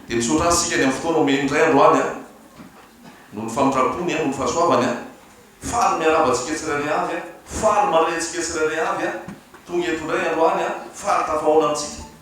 Dia misaotra Azy isika ny amin'ny fotoana omeny indray androany an! Noho ny famindrampony an! Noho ny fahasoavany an! Faly miarahaba antsika tsirairay avy an! Faly mandray antsika tsirairay avy an! Tonga eto indray androany an! Faly tafahaona amintsika.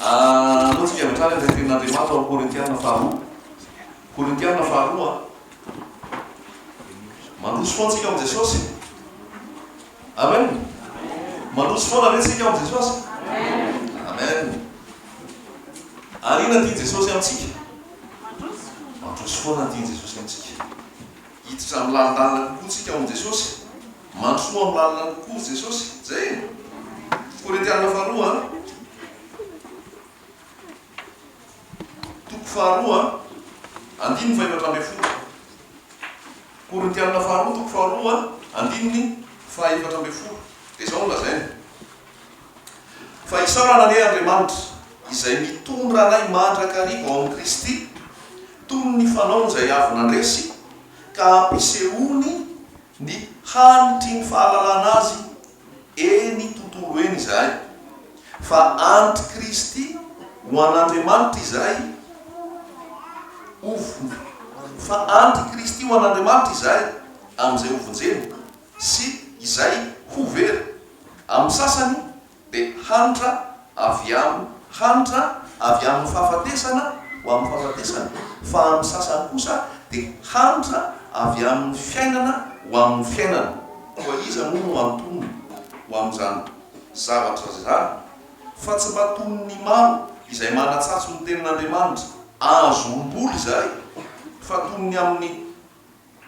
Anao isika avy hatrany izay tenin'Andriamanitra ao amin'ny Korintiana faharoa. Korintiana faharoa. Mandroso foana isika ao amin'i Jesosy. Amen. Mandroso foana ve isika ao amin'i Jesosy? Amen. Ary inona ny tian'i Jesosy amintsika? Mandroso foana ny tian'i Jesosy amintsika. Hiditra amin'ny lalindalina kokoa isika ao amin'i Jesosy. Matoa malina kokoa Jesosy zay e! Korintiana faharoa a. Toko faharoa andininy fahefatra ambin'ny folo. Korintiana faharoa toko faharoa andininy fahefatra ambin'ny folo dia izao no lazainy. Fa isaorana anie Andriamanitra izay mitondra anay mandrakariva ao amin'i Kristy toy ny fanaony izay avy nandresy ka ampisehoany Ny hanitry ny fahalalana Azy eny tontolo eny izahay, fa anti Kristy ho an'Andriamanitra izahay, hovonj. Fa anti Kristy ho an'Andriamanitra izahay amin'izay hovonjena, sy izay ho very. Amin'ny sasany dia hanitra avy am hanitra avy amin' ny fahafatesana ho amin' ny fahafatesana, fa amin' ny sasany kosa dia hanitra avy amin' ny fiainana ho amin' ny fiainana. Koa iza moa no antonony ho amin' izany zavatra izany, fa tsy mba toy ny maro izay manatsatso ny tenin' Andriamanitra, azo omboly izay, fa toy ny amin' ny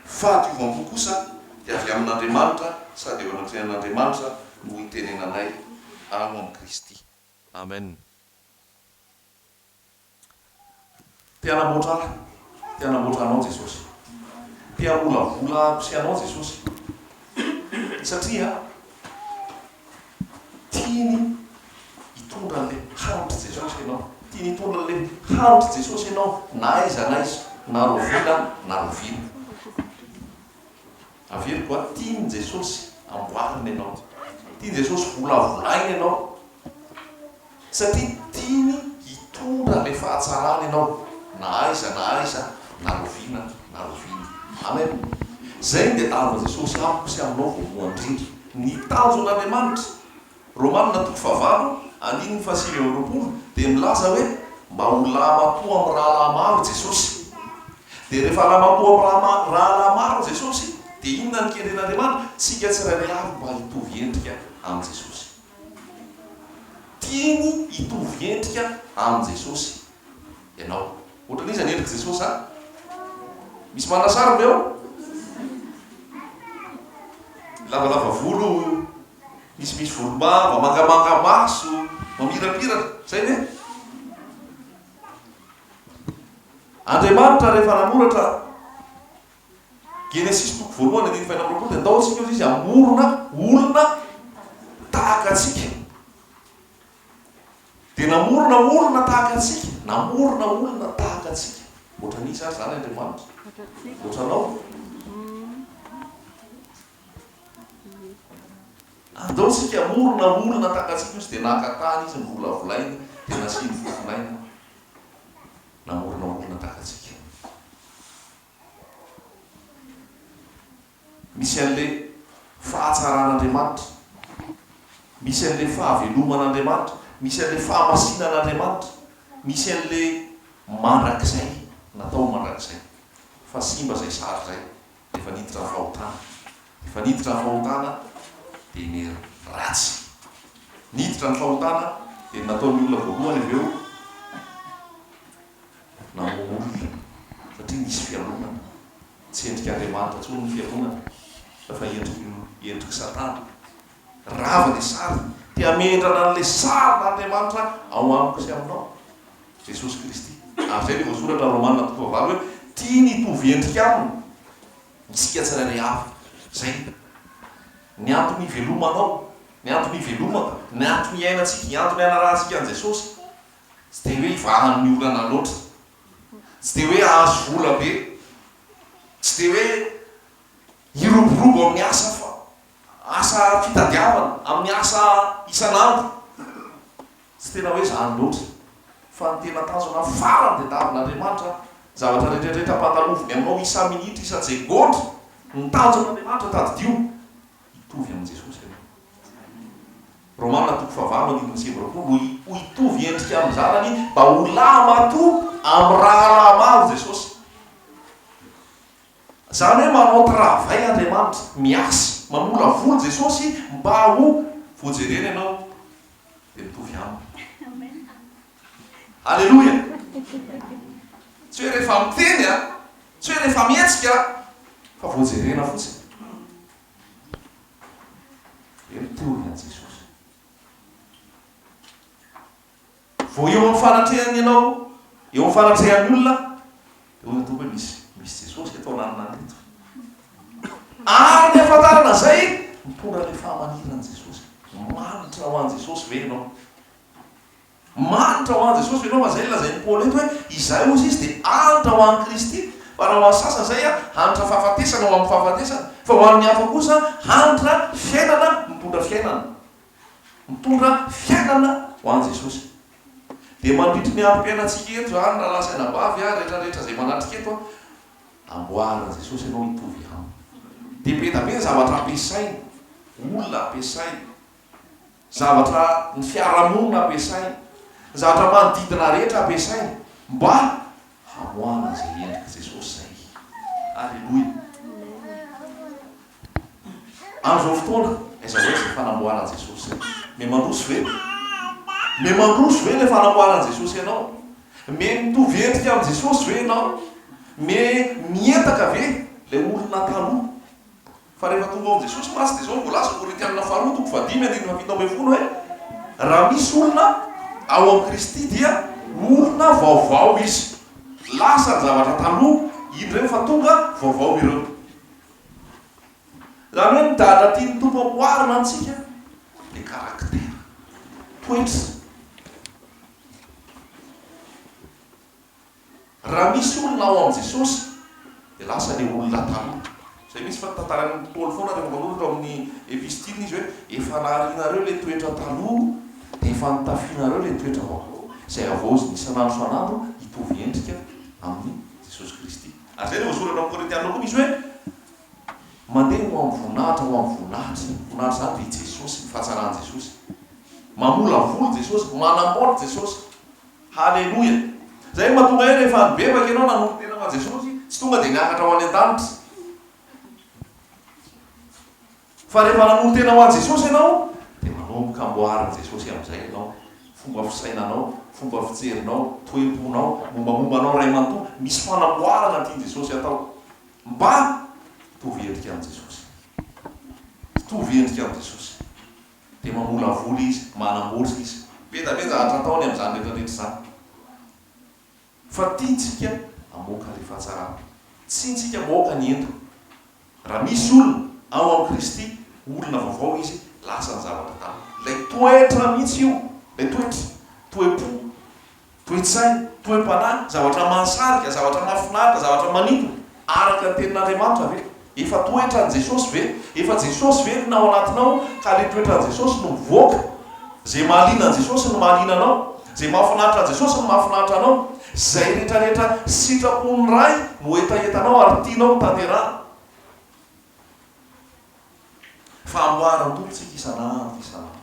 Fahadiovam-po kosa dia avy amin'Andriamanitra sady eo anatrehan'Andriamanitra no hitenenanay ao amin'i Kristy. Amen. Te hanamboatra ahy. Te hanamboatra anao Jesosy. Te hamolavola ahy sy anao Jesosy. Satria. Tiany hitondra an'ilay haritr'i Jesosy ianao. Tiany hitondra an'ilay haritr'i Jesosy ianao na aiza na aiza, na rovina na rovina. Averiko an, tian'i Jesosy amboarina ianao. Tian'i Jesosy volavolaina ianao. Satria tiany hitondra ilay fahatsarana ianao na aiza na aiza na roviana na roviana. Amen. Izay dia aron'i Jesosy amiko sy aminao voalohany indrindra. Ny tanjon'Andriamanitra, Romana toko fahavalo andininy fahasivy amby roapolo, dia milaza hoe mba ho lahimatoa amin'ny rahalahy maro i Jesosy. Dia rehefa lahimatoa amin'ny rahalahy maro i Jesosy dia inona no kendren'Andriamanitra? Tsika tsirairay avy mba hitovy endrika amin'i Jesosy. Tiany hitovy endrika amin'i Jesosy ianao. Ohatran'iza ny endrik'i Jesosy an? Misy manana sariny ve ao? Lavalava volo, misimisy volombava, mangamanga maso, mamirapiratra. Izay ve? Andriamanitra rehefa nanoratra. Genesisy toko voalohany andininy fahenina amby roapolo dia ndao isika hozy izy hamorona olona tahaka antsika. Dia namorona olona tahaka antsika, namorona olona tahaka antsika. Ohatran'iza ary izany Andriamanitra? Ohatranao? Andao isika hamorona olona tahaka antsika hozy dia naka tany izy novolavolainy dia nasiany fofon'aina namorona olona tahaka antsika. Misy an'ilay fahatsaran'Andriamanitra. Misy an'ilay fahaveloman'Andriamanitra. Misy an'ilay fahamasinan'Andriamanitra. Misy an'ilay mandrakizay, natao ho mandrakizay. Fa simba izay sary izay, dia efa niditra ny fahotana. Efa niditra ny fahotana, dia ny ratsy. Niditra ny fahotana, dia ny nataon'ny olona voalohany avy eo. na ho olona satria nisy fialonana. Tsy endrik'Andriamanitra intsony ny fialonana fa fa endrik'i endrik'i Satana. Rava ilay sary, te hamendrana an'ilay sarin'Andriamanitra ao amiko sy aminao, Jesosy Kristy. Ary izay no voasoratra Romana toko fahavalo hoe, Tiany hitovy endrika aminy isika tsirairay avy. Izay ny antony hivelomanao, ny antony hivelomako, ny antony hiainantsika, ny antony hanarahantsika an'i Jesosy. Tsy dia hoe ivahan'ny olana loatra. Tsy dia hoe ahazo vola be. Tsy dia hoe hiroborobo amin'ny asa fa asa fitadiavana, amin'ny asa isan'andro. Tsy tena hoe izany loatra. Fa ny tena tanjona farany dia tavin'Andriamanitra zavatra rehetrarehetra ampahataloviny aminao isa-minitra, isa-tsegondra. Ny tanjon'Andriamanitra tadidio. Hitovy amin'i Jesosy ianao. Romana toko fahavalo andininy sivy amby roapolo, Ho hitovy endrika amin'ny Zanany, mba ho lahy matoa amin'ny rahalahy maro Jesosy. Izany hoe manao travail Andriamanitra, miasa, mamolavoly Jesosy mba ho voajerena ianao dia mitovy Aminy. Aleloia! Tsy hoe rehefa miteny an, tsy hoe rehefa mihetsika an, fa vao jerena fotsiny. Dia mitory an'i Jesosy. Vao eo amin'ny fanatrehany ianao, eo amin'ny fanatrehan'ny olona, dia hoy ny Tompo hoe misy misy Jesosy eto ananana eto. Ary ny hafantarana izay, mitondra ilay fahamaniran'i Jesosy. Manitra ho an'i Jesosy ve ianao? Mahantra ho an'i Jesosy ianao, fa izay ilay lazain'i Paoly eto hoe, izay hozy izy dia hantra ho an'i Kristy. Fa raha ho an'ny sasany izay, hantra fahafatesana ho amin'ny fahafatesana, fa ho an'ny hafa kosa hantra fiainana mitondra fiainana. Mitondra fiainana ho an'i Jesosy. Dia mandritry ny androm-piainantsika eto izany, rahalahy sy anabavy, ary rehetra rehetra izay manatrika eto, amboarin'i Jesosy ianao hitovy Aminy. Dia be dia be ny zavatra ampiasainy, olona ampiasainy. Zavatra ny fiarahamonina ampiasaina, ny zavatra manodidina rehetra ampiasaina mba hamoahana izay endrik'i Jesosy izay. Aleloia. Amin'izao fotoana aiza ho aiza izay fanamboaran'i Jesosy izay? Mety mandroso ve? Mety mandroso ve ilay fanamboaran'i Jesosy ianao? Mety mitovy endrika amin'i Jesosy ve ianao? Mety mihetaka ve ilay olona taloha? Fa rehefa tonga ao amin'i Jesosy mantsy dia izao no voalaza, Korinthiana faharoa toko fahadimy andininy fahafito ambin'ny folo hoe, Raha misy olona ao amin'i Kristy dia olona vaovao izy, lasa ny zavatra taloha, iny ireny fa tonga vaovao ireo. Izany hoe ny dada tian'ny Tompo amboarina amintsika dia karaktera, toetra. Raha misy olona ao amin'i Jesosy dia lasa ilay olona taloha. Izay mihitsy fa tantarain'i Paoly foana rehefa manoratra ao amin'ny epistiliny izy hoe efa naharianareo ilay toetra taloha dia efa nitafianareo ilay toetra vaovao izay havaozina isan'andro isan'andro hitovy endrika amin'i Jesosy Kristy. Ary izay no voasoratra amin'ny Korintiana koa misy hoe mandeha ho amin'ny voninahitra, ho amin'ny voninahitra. Ny voninahitra izany dia i Jesosy, ny fahatsaran'i Jesosy. Mamolavoly Jesosy, manamboatra Jesosy. Haleloia! Izay no mahatonga ahy rehefa nibebaka ianao nanolo-tena ho an'i Jesosy, tsy tonga dia niakatra ho any an-danitra. Fa rehefa nanolo-tena ho an'i Jesosy ianao, dia manomboka amboarin'i Jesosy amin'izay ianao, fomba fisainanao, fomba fijerinao, toe-ponao, mombamomba anao iray manontolo, misy fanamboarana tian'i Jesosy hatao. Mba hitovy endrika amin'i Jesosy. Hitovy endrika amin'i Jesosy. Dia mamolavola izy, manamboatra izy. Be da be zavatra atao ny amin'izany rehetrarehetra izany. Fa tiantsika hamoaka ilay fahatsarana. Tiantsika mamoaka ny ento. Raha misy olona ao amin'i Kristy, olona vaovao izy, lasa ny zavatra taloha. Ilay toetra mihitsy io, ilay toetra, toe-po. Toe-tsaina, toe-panahy, zavatra mahasarika, zavatra mahafinaritra, zavatra manintona, araka ny Tenin'Andriamanitra ve? Efa toetran'i Jesosy ve? Efa Jesosy ve no ao anatinao ka ilay toetran'i Jesosy no mivoaka? Izay mahaliana an'i Jesosy no mahaliana anao, izay mahafinaritra an'i Jesosy no mahafinaritra anao, izay rehetrarehetra sitrapon'ny Ray no hetahetanao ary tianao ho tanterahina. Fa amboarin'ny Tompo isika isan'andro isan'andro.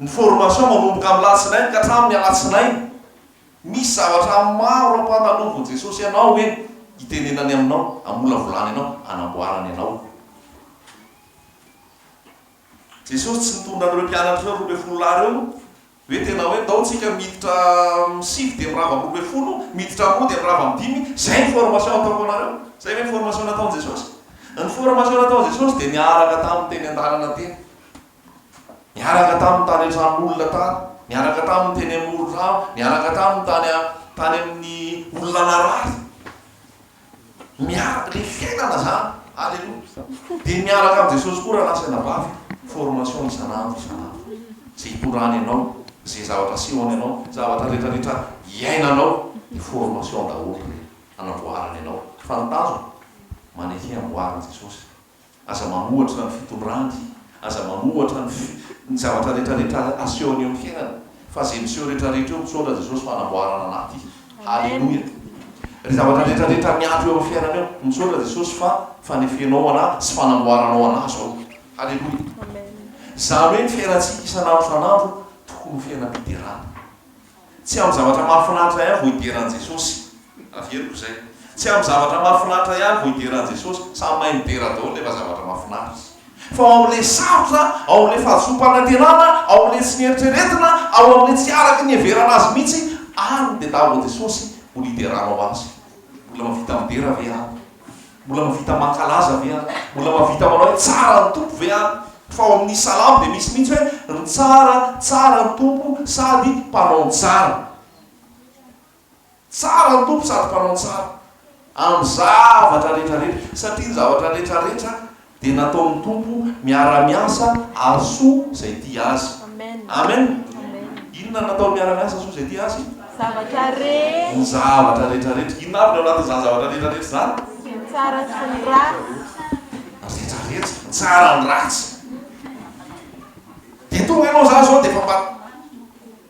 Ny formation manomboka amin'ny latsinainy ka hatramin'ny alatsinainy. Misy zavatra maro ampandalovin'i Jesosy anao eny, itenenany aminao, amolavolany anao, anamboarany anao. Jesosy tsy nitondra an'ireo mpianatra ireo roa ambin'ny folo lahy ireo. Ve tena hoe tao tsika miditra am sivy dia mirava am roa ambin'ny folo, miditra am roa dia mirava am dimy, zay ny formation ataoko anareo? Zay ve ny formation nataon'i Jesosy? Ny formation nataon'i Jesosy dia niaraka taminy teny andalana teny, niaraka taminy tany an-trano olona tany, niaraka taminy teny amoron-drano, niaraka taminy tany tany amin'ny olona narary. Miaraka ny fiainana zany. Aleloia. Dia miaraka amin'i Jesosy koa rahalahy sy anabavy, formation isan'andro isan'andro. Izay itondrany anao, izay zavatra asehony anao, zavatra rehetra rehetra iainanao, dia formation daholo ireny, hanamboarany anao. Fa ny tanjona, maneke amboarin'i Jesosy. Aza manohatra ny fitondrandy, aza manohatra ny fi, ny zavatra rehetra rehetra asehony eo amin'ny fiainana, fa ze miseho rehetra rehetra eo misaotra Jesosy fanamboarana anaty. Haleloia. Re zavatra rehetra rehetra miato eo amin'ny fiainana eo, misaotra Jesosy fa fanefenao anahy sy fanamboaranao anahy zao. Haleloia. Zany hoe ny fiainantsika isan'andro isan'andro tokony ho fiainam-piderana. Tsy amin'ny zavatra mahafinaritra ihany vao hidera an'i Jesosy. Averiko izay. Tsy amin'ny zavatra mahafinaritra ihany vao hidera an'i Jesosy. Samy mahay midera daholo rehefa zavatra mahafinaritra. Fa ao amin'ilay sarotra, ao amin'ilay fahadisoam-panantenana, ao amin'ilay tsy nieritreretina, ao amin'ilay tsy araka ny hiheverana Azy mihitsy, any dia tao amin'i Jesosy no nideranao Azy. Mbola mahavita midera ve aho? Mbola mahavita mankalaza ve aho? Mbola mahavita manao hoe tsara ny Tompo ve aho? Fa ao amin'ny salamo dia misy mihitsy hoe ny tsara, tsara ny Tompo sady mpanao ny tsara. Tsara ny Tompo sady mpanao ny tsara amin'ny zavatra rehetra rehetra satria ny zavatra rehetra rehetra Dia nataon'ny Tompo miara-miasa ary soa izay tia Azy. Amen! Inona nataony miara-miasa soa izay tia Azy? Zavatra rehetra. Ny zavatra rehetra rehetra. Inona avy ny ao anatin'izany zavatra rehetra rehetra izany? Ny tsara sy ny ratsy. Rehetra rehetra. Ny tsara, ny ratsy. Dia tonga ianao, izaho izao dia efa mba.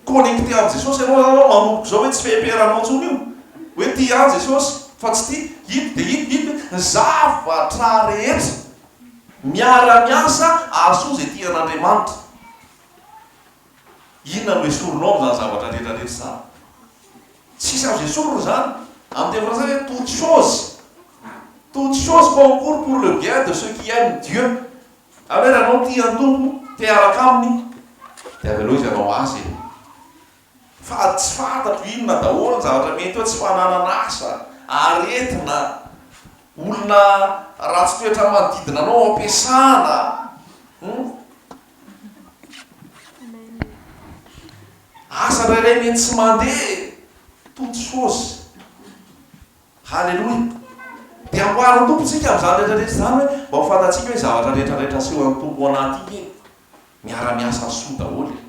Connecter amin'i Jesosy ianao izany anao manomboka izao hoe tsy feperanao intsony io. Hoe tia ahy Jesosy fa tsy tia iny dia iny, iny dia iny. Zavatra rehetra miara miasa ahasoa izay tia an'Andriamanitra. Inona no esorinao amin'izany zavatra rehetra rehetra izany? Tsisy azo esorina izany. Amin'ny teny frantsay hoe toutes choses, toutes choses concourent pour le bien de ceux qui aiment Dieu. Ary hoe raha ianao tia ny Tompo, te hiaraka Aminy, dia avelao Izy hanao azy e. Fa tsy fantatro inona daholo ny zavatra mety hoe tsy fananana asa, aretina, olona ratsy toetra manodidina anao, ampiasana, hum. Asa indray mety tsy mandeha, toutes choses. Haleloia! Dia amboarin'ny Tompo isika amin'izany rehetra rehetra izany hoe mba ho fantatsika hoe zavatra rehetra rehetra asehon'ny Tompo ao anaty iny e! Miara miasa soa daholo e!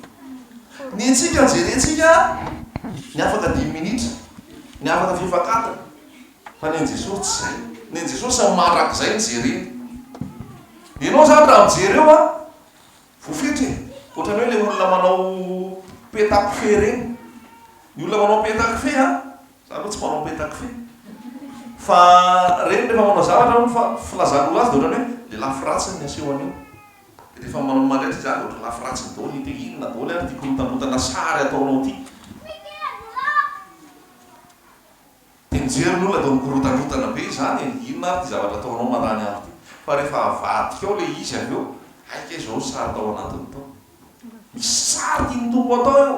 Ny antsika jerentsika ny afaka dimy minitra, ny afaka fefak'adiny, fa ny an'i Jesosy tsy izay, ny an'i Jesosy mandrakizay ny jereny. Ianao izany raha mijery eo a, voafetra e! Ohatran'ny hoe ilay olona manao peta kofehy ireny, ny olona manao peta kofehy a, Za aloha tsy manao petakofehy fa reny rehefa manao zavatra aloha fa filazana ho laza dia ohatrany hoe le lafy ratsiny ny aseho an'io dia rehefa manao mandray izy ary ohatry lafy ratsiny daholo hita hoe inona daholo ary ity korotanrotana sary ataonao ity dia mijery ny olona dia mikorotanrotana be izany e, inona ary ity zavatra ataonao marany andro ity fa rehefa avadika ao le izy avy eo hay kay izao ny sary tao anatiny tao, misy sary tian'ny Tompo atao eo.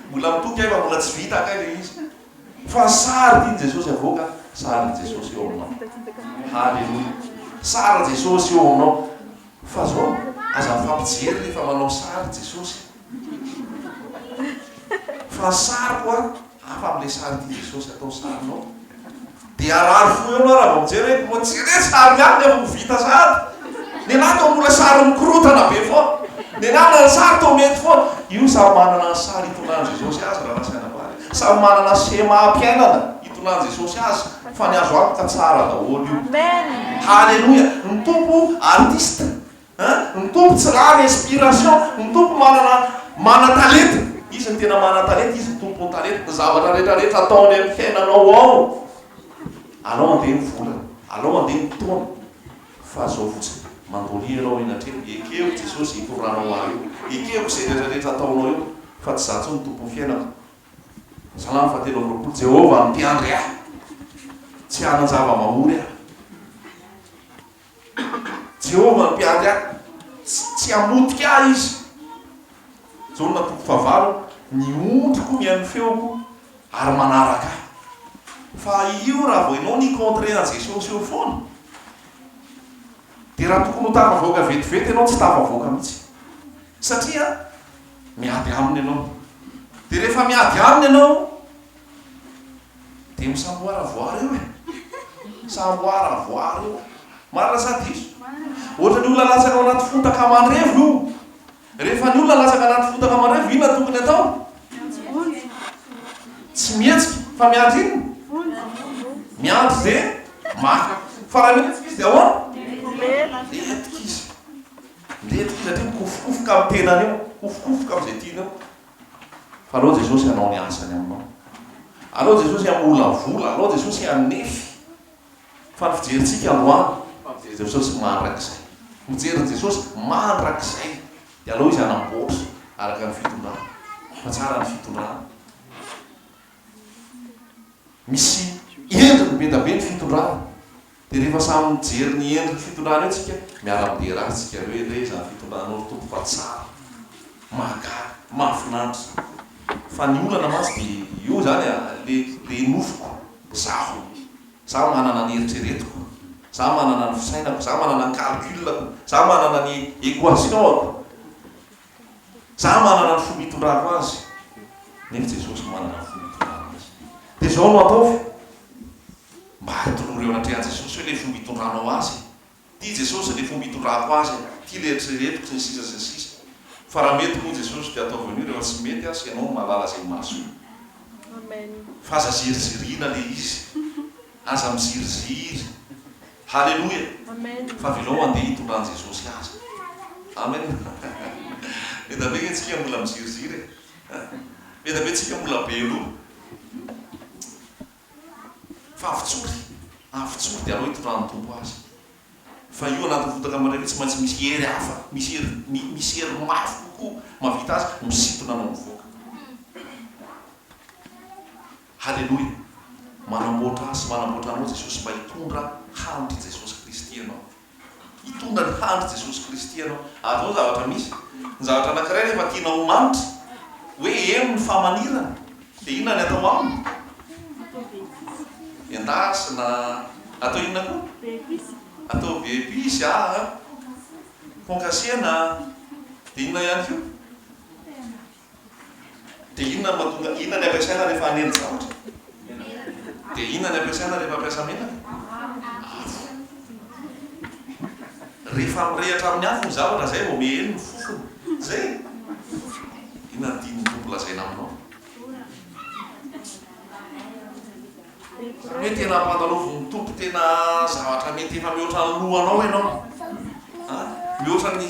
Mbola mitoky ahy fa mbola tsy vita ankay le izy fa ny sary tian'i Jesosy havoaka sarin'i Jesosy eo aminao. Haleloia. Sarin'i Jesosy eo aminao. Fa zao aza mifampijery rehefa manao sary Jesosy. Fa ny sariko a hafa amin'ilay sary tian'i Jesosy atao sarinao. Dia harary fo eo ianao raha vao mijery hoe moa tsy re sary ihany ny amin'ny vita sahady? Ny anah toa mbola sary mikorotana be foana. Ny anah na ny sary toa mety foana. Io samy manana ny sary itondrany Jesosy azy raha nasaina bary. Samy manana schéma am-piainana itondrany Jesosy azy fa ny azo antoka tsara daholo io. Haleloia! Ny Tompo artiste Hein ny Tompo tsy rariny inspiration ny Tompo manana mana talenta izy ny tena mana talenta izy ny tompony talenta ny zavatra rehetra rehetra ataony amin'ny fiainanao ao alao andeha ny vola alao andeha ny taona fa zao fotsiny mandolia ianao eny an-trembo ekeo Jesosy hitoranao ahy eo ekeko izay rehetra rehetra ataonao eo fa tsy za tsony tompon'ny fiainako Salamo fahatelo amby roapolo Jehovah no mpiandry ahy tsy hanan-java-mamory ahy Jehovah hampiady ahy, tsy hamotika ahy izy. Jaona toko fahavalo, Ny ondriko mihaino ny feoko ary manaraka ahy. Fa io raha vao ianao ni-contrer an'i Jesosy eo foana, dia raha tokony ho tafavoaka vetivety ianao, tsy tafavoaka mihitsy. Satria miady aminy ianao. Dia rehefa miady aminy ianao, Dia misamboara voara eo e! Samboara voara eo. Marina sa diso? Ohatran'ny olona latsaka ao anaty fotaka mandrevo io. Rehefa ny olona latsaka anaty fotaka mandrevo, inona no tokony atao? Tsy mihetsika, fa miandry inona? Miandry izay maka. Fa raha mihetsika izy dia ahoana? Mihetsika izy. Mihetsika izy satria mikofokofoka amin'ny tenany eo. Mikofokofoka amin'izay tiany eo. Fa aleo Jesosy hanao ny asany aminao. Aleo Jesosy hamolavola, aleo Jesosy hanefy. Fa ny fijerintsika androany, fa mijery Jesosy mandrakizay. Mijery Jesosy mandrakizay. Dia aleo Izy hanamboatra araka ny fitondrany. Fa tsara ny fitondrana. Misy endriny be dia be ny fitondrana. Dia rehefa samy mijery ny endriny fitondrana eo tsika miara midera azy tsika re re izany fitondranao ry Tompo fa tsara, mahagaga, mahafinaritra. Fa ny olana mantsy dia eo izany a, le le nofiko, zaho, za manana ny eritreretiko, za manana ny fisainako, za manana ny calcul-ako, za manana ny equation-ako. Za manana ny fomba itondrako azy nefa Jesosy manana ny fomba itondrany azy. Dia zao no ataovy, mba atonoro eo anatrehan'i Jesosy hoe le fomba itondranao azy e! Ty Jesosy le fomba itondrako azy e! Ty le eritreretiko sy ny sisa sy ny sisa. Fa raha mety moa Jesosy dia ataovy an'io, rehefa tsy mety aza ianao no mahalala izay mahasoa. Fa aza ziriziriana le izy. Aza miziriziry. Haleloia fa velao handeha hitondran Jesosy azy Amen Eda be nge tsika mbola miziriziry e Eda be tsika mbola be loha Fa avotsory avotsory de aleo hitondran Tompo azy Fa io anaty fotaka mandray tsy maintsy misy hery hafa misy hery misy hery mafy kokoa mavita azy misintona anao mivoaka. Haleloia! Manamboatra ahy sy manamboatra anao Jesosy mba hitondra handry Jesosy Kristy ianao. Hitondra ny handry Jesosy Kristy ianao. Ary zao ny zavatra misy, ny zavatra anakiray rehefa tianao ho mandry, hoe heno ny famanirana, dia inona ny atao aminy? Endasina, atao inona koa? Be episy. Atao be episy aa, concassena, dia inona ihany koa? Dia inona no mahatonga, inona ny ampiasaina rehefa hanendy zavatra? Dia inona ny ampiasaina rehefa hampiasa menaka? Afo. Rehefa mirehatra amin'ny afo ny zavatra izay vao mihely ny fofony. Izay e! Inona no tian'ny Tompo lazaina aminao? Izany hoe tena ampandalovin'ny Tompo tena zavatra mety efa mihoatra ny lohanao ianao. Mihoatra ny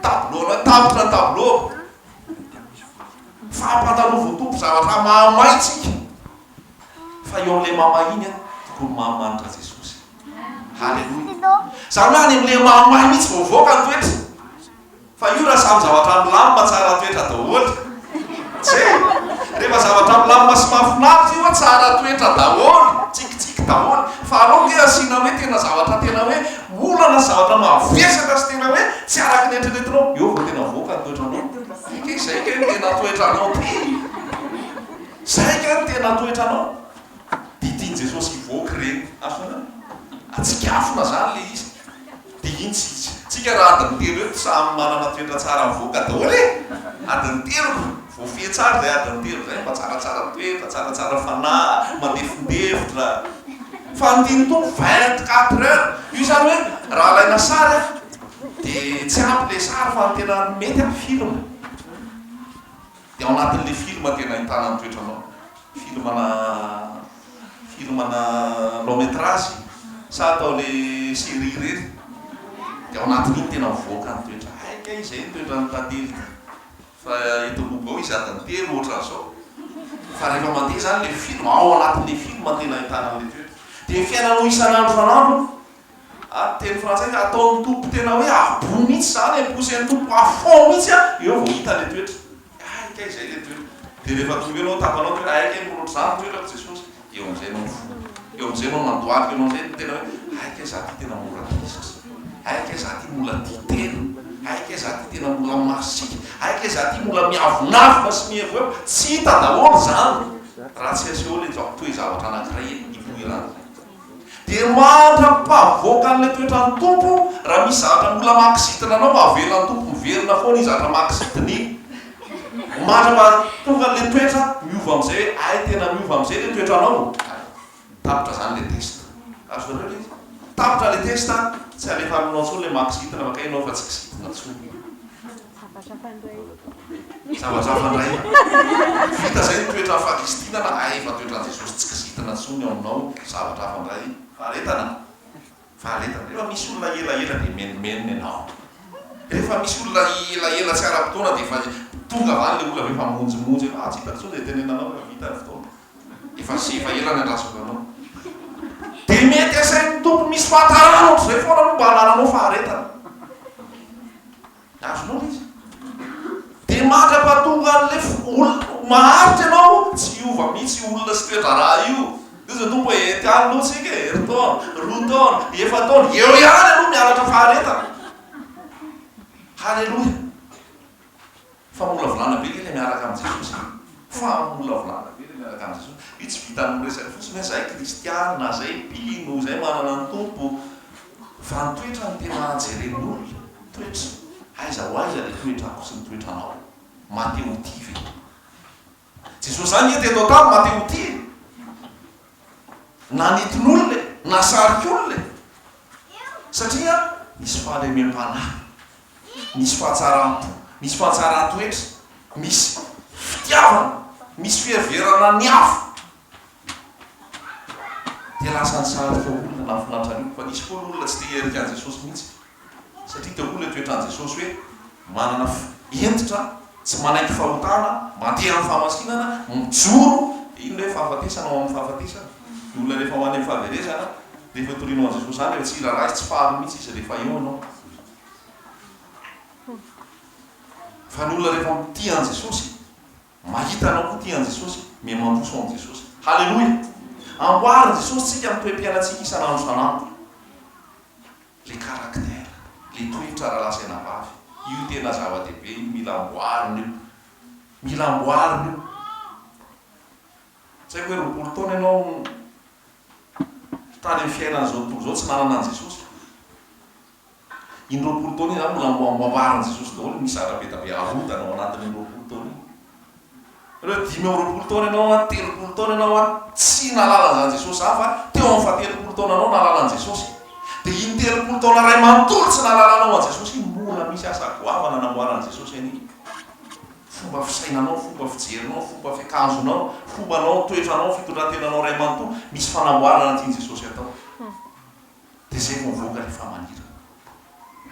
tableau-nao, tapitra ny tableau-ko. mety amin'izy ireo koa. Mifampandalova ho tompon zavatra mahamay tsika fa eo amin'ilay mahamay iny tokony mahamanitra Jesosy. Haleloia. Izany hoe any amin'ilay mahamay mihitsy vao mivoaka ny toetra. Fa io raha samy zavatra milamina tsara toetra daholo. Tsia? Rehefa zavatra milamina sy mahafinaritra io tsara toetra daholo, tsikitsiky daholo. Fa aleo ange asiana hoe tena zavatra tena hoe. Olana zavatra mavesatra sy tena hoe tsy araka ny eritreretinao, eo vao tena avoaka ny toetranao. Ity izay kay no tena toetranao ty! Izay kay no tena toetranao! Dia tian'i Jesosy hivoaka ireny. Azonareo? Atsikafona izany ilay izy. Dia iny tsy hisy. Tsika raha adiny telo eto samy manana toetra tsara avoaka daholo e! Adiny telo. Voafehy tsara izay adiny telo izay mba tsaratsara toetra, tsaratsara fanahy, mandefondefitra. Fa ny tian'ny Tompo vingt quatre heures. Io izany hoe raha alaina sary aho dia tsy ampy ilay sary fa ny tena mety aho film. Dia ao anatin'ilay film tena ahitana ny toetranao. Filmana filmana long metrage sa atao ilay série ireny. Dia ao anatin'iny tena mivoaka ny toetra. Hay kay izay ny toetran'i Tantely ity. Fa eto Lobo ao izy adiny telo ohatran zao. Fa rehefa mandeha zany le film ao anatin le film tena ahitana anle toetra. De ny fiainanao isan andro isan andro a teny frantsay ka ataon Tompo tena hoe à bout mihitsy zany e pousser ny Tompo à fond mihitsy a eo vao hita le toetra. Hay kay zay le toetra. De rehefa trouver nao tapanao toetra hay kay miroatra zany ny toetrako Jesosy. Eo amin'izay ianao mifoha. Eo amin'izay ianao mandohalika. Eo amin'izay no tena hoe, hay kay za ty tena mora tezitra. Hay kay za ty mbola tia tena. Hay kay za ty tena mbola masiaka. Hay kay za ty mbola miavonavona sy mihevohevo. Tsy hita daholo izany raha tsy asehon'ilay toe-javatra toe-javatra anankiray eny ipoiran'ilay. Dia mandra-pahavoaka an'ilay toetran'ny Tompo, raha misy zavatra mbola mahakizitina anao, avela ny Tompo miverina foana izy hatramin'ny mahakizitina iny. Mandra mba tonga anle toetra miova amzay hoe ay tena miova amzay le toetra anao tapitra zany le test azonareo le izy tapitra le test tsy alefa aminao tsony le mahakizitina fa kay enao fa tsy kizitina tsony zavazafa ndray vita zay ny toetra fahakizitinana ay efa toetran jesosy tsy kizitina tsony ao aminao zavatra hafa ndray faharetana Faharetana. Rehefa misy olona elaela dia menomenona ianao. Rehefa misy olona elaela tsy ara-potoana dia efa tonga avy any ilay olona avy eo fa monjomonjo ianao, ah tsy hitako intsony izay tenenanao rehefa vita ny fotoana. Efa sy efa ela ny andrasonganao. Dia mety asain'ny Tompo misy fahatarana ohatr'izay foana aloha mba hanananao faharetana. Azonao ve izy? Dia mandra-pahatonga an'ilay olona maharitra ianao, tsy hiova mihitsy io olona sy toe-draharaha io. Hoy Jesoa Tompo hoe, Ety aloha isika e, herintaona, roa taona, efa-taona, eo ihany aloha ny halatra faharetana. Haleloia! Famolavolana be ve ilay miaraka amin'i Jesosy? Famolavolana be ilay miaraka amin'i Jesosy. Io tsy vitan'ny miresaka fotsiny hoe izay kristiana, izay mpino, izay manana ny Tompo. Fa ny toetrany tena jeren'olona, toetra, aiza ho aiza le toetrako sy ny toetranao? Mate ho tia ve? Jesosy zany nge teto an-tany mate ho tia e! Nanitin'olona e! Nasarik'olona e! Satria nisy fahalemem-panahy, nisy fahatsaram-po, nisy fahatsaran-toetra, misy fitiavana, misy fiheverana ny hafa, Dia lasa ny sary feo olona nahafinaritra an'io, fa nisy koa ny olona tsy te hiherika an'i Jesosy mihitsy, satria teo koa ilay toetran'i Jesosy hoe manana hentitra, tsy manaiky fahotana, mandeha amin'ny fahamasinana, mijoro, dia iny ilay fahafatesana ao amin'ny fahafatesana, ny olona rehefa ho any amin'ny fahaverezana, rehefa itorianao an'i Jesosy izany dia tsy hiraharaha izy, tsy faly mihitsy izy rehefa eo ianao. Fa ny olona rehefa tia an'i Jesosy Mahita anao koa tia an'i Jesosy, mais mandroso amin'i Jesosy. Haleloia! Amboarin'i Jesosy tsika amin'ny toe-piainantsika isan'andro isan'andro. Le caractère, le toetra rahalahy sy anabavy, io tena zava-dehibe io, mila amboarina io. Mila amboarina io. Tsy haiko hoe roapolo taona ianao tany amin'ny fiainan'izao tontolo izao tsy nanana an'i Jesosy. Iny roapolo taona iny izany mbola amboarimbarin'i Jesosy daholo ny missatra be dia be arodana ao anatin'iny roapolo taona iny. Aleo dimy amby roapolo taona ianao an, telopolo taona ianao an, tsy nahalala an'izany Jesosy izany fa teo amin'ny fahatelopolo taonanao nahalala an'i Jesosy. Dia iny telopolo taona iray manontolo tsy nahalalanao an'i Jesosy iny, mbola misy asa goavana namboaran'i Jesosy anio. Fomba fisainanao, fomba fijerinao, fomba fiakanjonao, fombanao, toetranao, fitondran-tenanao iray manontolo, misy fanamboarana tian'i Jesosy atao. Dia izay no havoaka ny famanirana.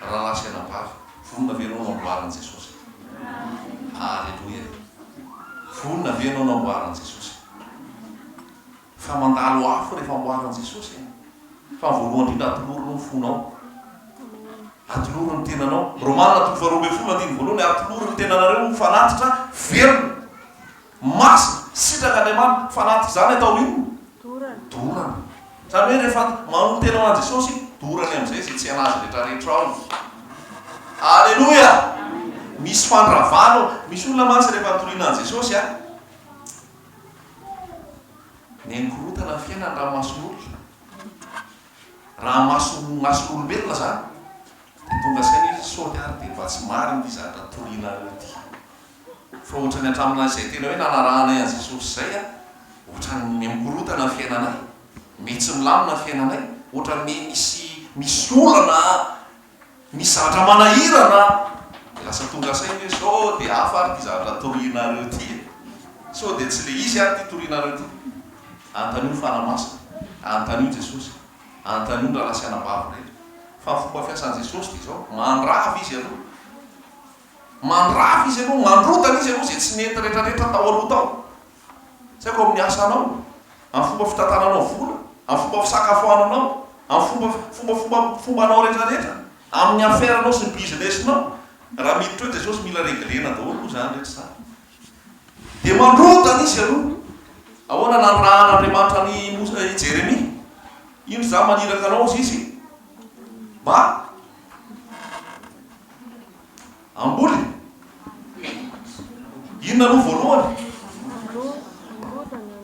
Rahalahy sy anabavy, vonona ve ianao namboarin'i Jesosy? Aleloia! Vonona ve ianao namboarin'i Jesosy? Fa mandalo afo rehefa amboarin'i Jesosy e! Fa ny voalohany indrindra atolory aloha ny fonao. Atolory ny tenanao. Romana toko faharoa ambin'ny folo andininy voalohany, Atolory ny tenanareo ho fanatitra velona. Masina, sitrak'Andriamanitra, fa anaty izany atao inona? Dorana. Izany hoe rehefa manotena ho an'i Jesosy iny, dorany amin'izay izay tsy hain'Azy rehetrarehetra ao. Aleloia! Misy fandravana ao. Misy olona mantsy rehefa nitoriana an'i Jesosy an, neny korontana ny fiainany raha ny mason'olona, raha ny mason'ny mason'olombelona izany, dia tonga saina izy, sao hiary dia mba tsy marina ity zavatra toriana an'io ity. Fa otrany hatraminay zay tena hoe nanarahanay an'i Jesosy zay a, otrany mikorontana ny fiainanay, mety tsy milamina ny fiainanay, otrany me misy misy olana a, misy zavatra manahirana a, de lasa tonga saina hoe sao de hafa ary ty zavatra torianareo ty e, sao de tsy le izy ary ty torianareo ty. Anontanio ny Fanahy Masina, anontanio Jesosy, anontanio ny rahalahy sy anabavy rehetra. Fa ny fomba fiasan'i Jesosy de zao, mandrava izy aloha, Mandrava izy ianao, mandrodana izy ianao izay tsy nety retraretra tao aloha tao. Tsy haiko amin'ny asanao, amin'ny fomba fitantananao vola, amin'ny fomba fisakafoananao, amin'ny fomba fomba fomba fombanao retraretra, amin'ny affaire nao sy ny business nao. Raha miditra eo Jesosy mila reglena daholo moa izany rehetra izany. Dia mandrodana izy ianao. Ahoana nanirahan'Andriamanitra an'i Mosa, i Jeremia? Indro izaho maniraka anao, hozy izy, mba Amboly? Inona no voalohany?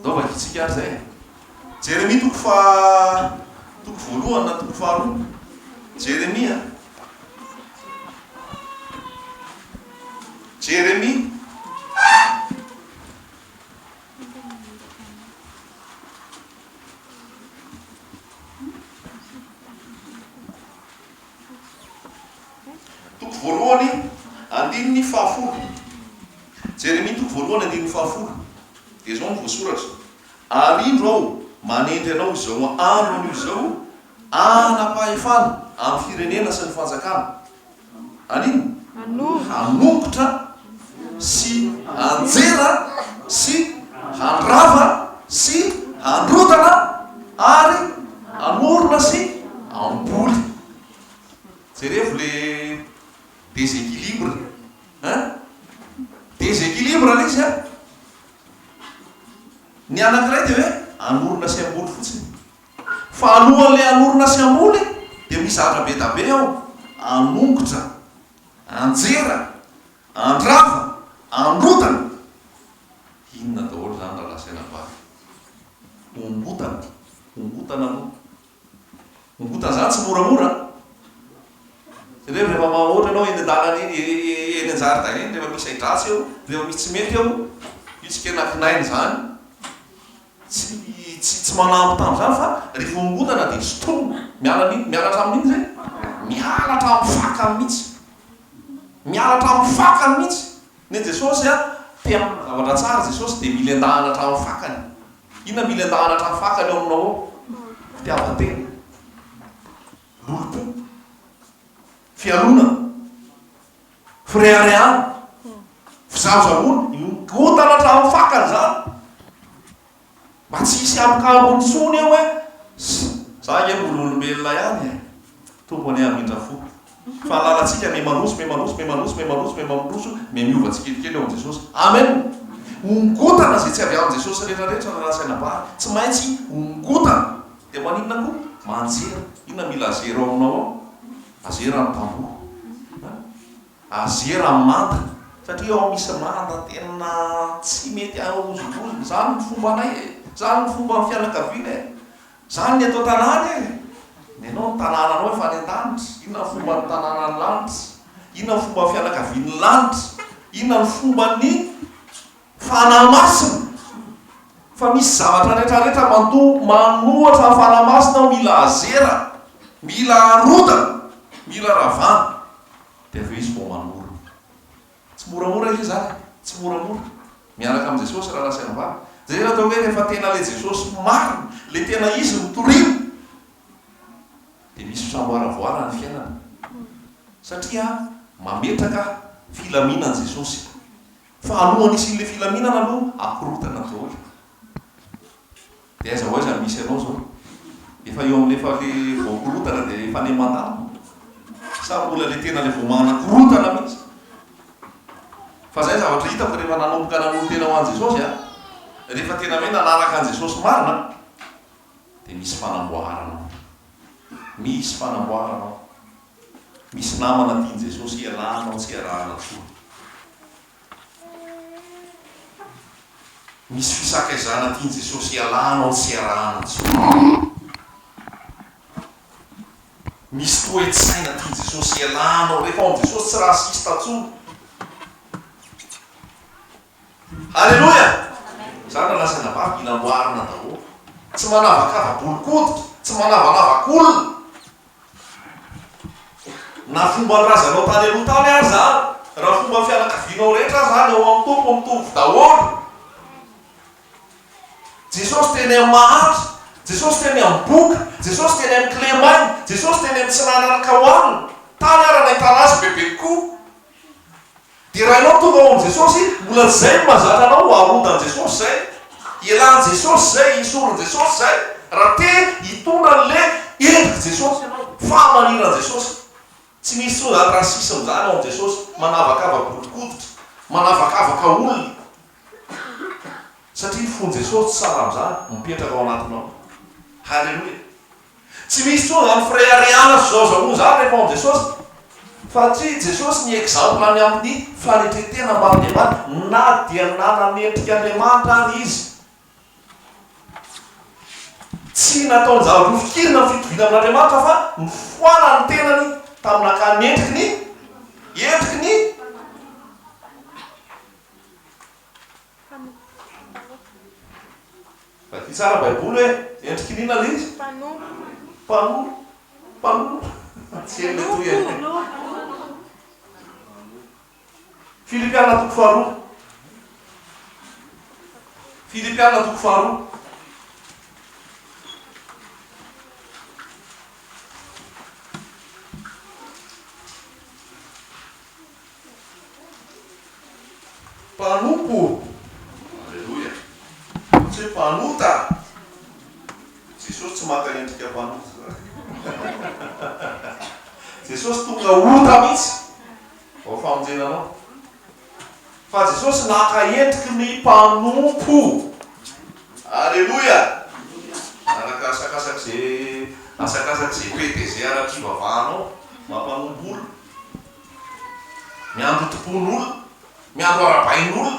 Ndao vakitsika ary zay. Jeremia toko fa toko voalohany na toko faharoa. Jeremia. Jeremia. Toko voalohany, andininy fahafolo. Jeremia toko voalohany, andininy fahafolo, dia izao no voasoratra, Ary indro Aho manendry anao izao andro anio izao hanam-pahefana amin'ny firenena sy ny fanjakana. Anino? Hanongotra sy hanjera sy handrava sy handrodana ary hanorona sy hamboly. Jerevo le desequilibre hein? Desequilibre le izy an! Ny anankiray dia hoe hanorona sy hamboly fotsiny. Fa alohan'ilay hanorina sy hamboly dia misy zavatra be da be ao, anongotra, anjera, andrava, androtana. Inona daholo izany raha lazaina bary? Ongotana, ongotana aloha. Ongotana izany tsy moramora an! Jereo rehefa ma, ohatra ianao eny an-dalana eny, eny an-jaridaina eny, rehefa misy ahi-dratsy eo, rehefa misy tsy mety eo, io tsy kena kinaina izany. Tsy tsy tsy manampy tamin'izany fa ry fiangonana dia sotroina. Miala amin'in miala hatramin'inona izay? Miala hatramin'ny fakany mihitsy. Miala hatramin'ny fakany mihitsy. Nen'i Jesosy an, te hanana zavatra tsara Jesosy dia mila endahana hatramin'ny fakany. Inona mila endahana hatramin'ny fakany eo aminao ao? Fitiavan-tena. Lolompo. Fialonana. Fireharehana, fijanonjanona, mikotana hatramin'ny fakany izany mba tsy hisy ambokambony intsony eo hoe za ange mbola olombelona ihany e! Tompo anie hamindra fo fa ny lalantsika me manoso me manoso me manoso me manoso me mamroso me miova tsikelikely eo amin'i Jesosy. Amen! Hongotana izay tsy avy amin'i Jesosy rehetra rehetra raha ratsy anabary. Tsy maintsy hongotana. Dia maninona koa? Manjery. Inona mila zero ao aminao ao? Azera ny mpamboho a! Azera ny manda! Satria ao misy manda tena tsy mety ahozongozona. Izany ny fombanay e! Izany ny fomban'ny fianakaviana e! Izany ny eto an-tanàna e! Nenao ny tanànanao efa any an-danitra. Inona ny fomban'ny tanànan'ny lanitra? Inona ny fomban'ny fianakavian'ny lanitra? Inona ny fomban'ny. Fanahy Masina, fa misy zavatra rehetra rehetra matoa manohatra ny Fanahy Masina aho, mila azera, mila arodana, mila ravana, dia avy eo Izy vao manorina. Tsy moramora ilay izy ary e, tsy moramora. Mianaka amin'i Jesosy rahalahy sy anabavy. Izay no atao hoe rehefa tena ilay Jesosy marina, ilay tena Izy no toriana, dia misy fisamboaravoarana ny fiainana, satria mametraka filaminana Jesosy. Fa alohan'ny hisian'ilay filaminana aloha akorontana ny daholo. Dia aiza ho aiza no misy anao izao? Efa eo amin'ilay efa ilay voakorontana dia efa any mandalo? Sa mbola ilay tena ilay vao manakorontana mihitsy? Fa izay zavatra hitako rehefa nanomboka nanolo-tena ho an'i Jesosy aho, rehefa tena hoe nanaraka an'i Jesosy marina aho, dia misy fanamboarana ao. Misy fanamboarana ao. Misy namana tian'i Jesosy hialana ao tsy arahana fo. Misy fisakaizana tian'i Jesosy hialana ao tsy arahana intsony. Misy toe-tsaina tian'i Jesosy hialana ao. Rehefa ao amin'i Jesosy tsy raciste intsony. Alléluia! Za na lahy sy na vavy mila amboarina daholo. Tsy manavakava bolokoditra, tsy manavanavankolona. Na fomba ny razanao tany aloha tany ary izany, na fomba ny fianakavianao rehetra ary izany, ao amin'ny Tompo mitovy daholo. Jesosy teny amin'ny mahantra, Jesosy teny amin'ny boka, Jesosy teny amin'ny kilemaina, Jesosy teny amin'ny tsy nananaka hohanina, tany ary nahitana Azy bebe kokoa. Dia raha ianao tonga ao amin'i Jesosy, mbola izay no mahazatra anao ho arodan'i Jesosy izay, hialan'i Jesosy izay, hisoron'i Jesosy izay, raha te hitondra an'ilay endrik'i Jesosy ianao, fahamaniran'i Jesosy. Tsy misy intsony izany racisme izany ao amin'i Jesosy, manavakava bodokoditra, manavakavaka olona, satria ny fon'i Jesosy tsy sahala amin'izany, mipetraka ao anatinao. Haleloia! Tsy misy intsony izany fireharehana sy zaozaoana izany rehefa ao amin'i Jesosy, satria Jesosy ny exemple ny amin'ny fanetre-tena mba an'i Andriamanitra, na dia nanana endrika Andriamanitra ary Izy. Tsy nataon-javatra nofikirina ny fitoviana amin'Andriamanitra fa nifoana ny tenany tamin'ny naka ny endriky ny endriky ny. Vaky tsara baiboly hoe, endriky n'inona le izy? Mpanompo. Mpanompo. Tsy hay le toy e. Filipiana toko faharoa. Filipiana toko faharoa. Mpanompo. Aleloia. Fa tsy hoe mpanota. Jesosy tsy maka endrika mpanota zany. Jesosy tonga ota mihitsy vao famonjena anao. Fa Jesosy naka endriky ny mpanompo. Aleloia. Araka asakasaky izay asakasaky izay pede izay araky hivavahanao maha mpanompo olona. Miandry hotompoin'olona, miandry hoarabain'olona,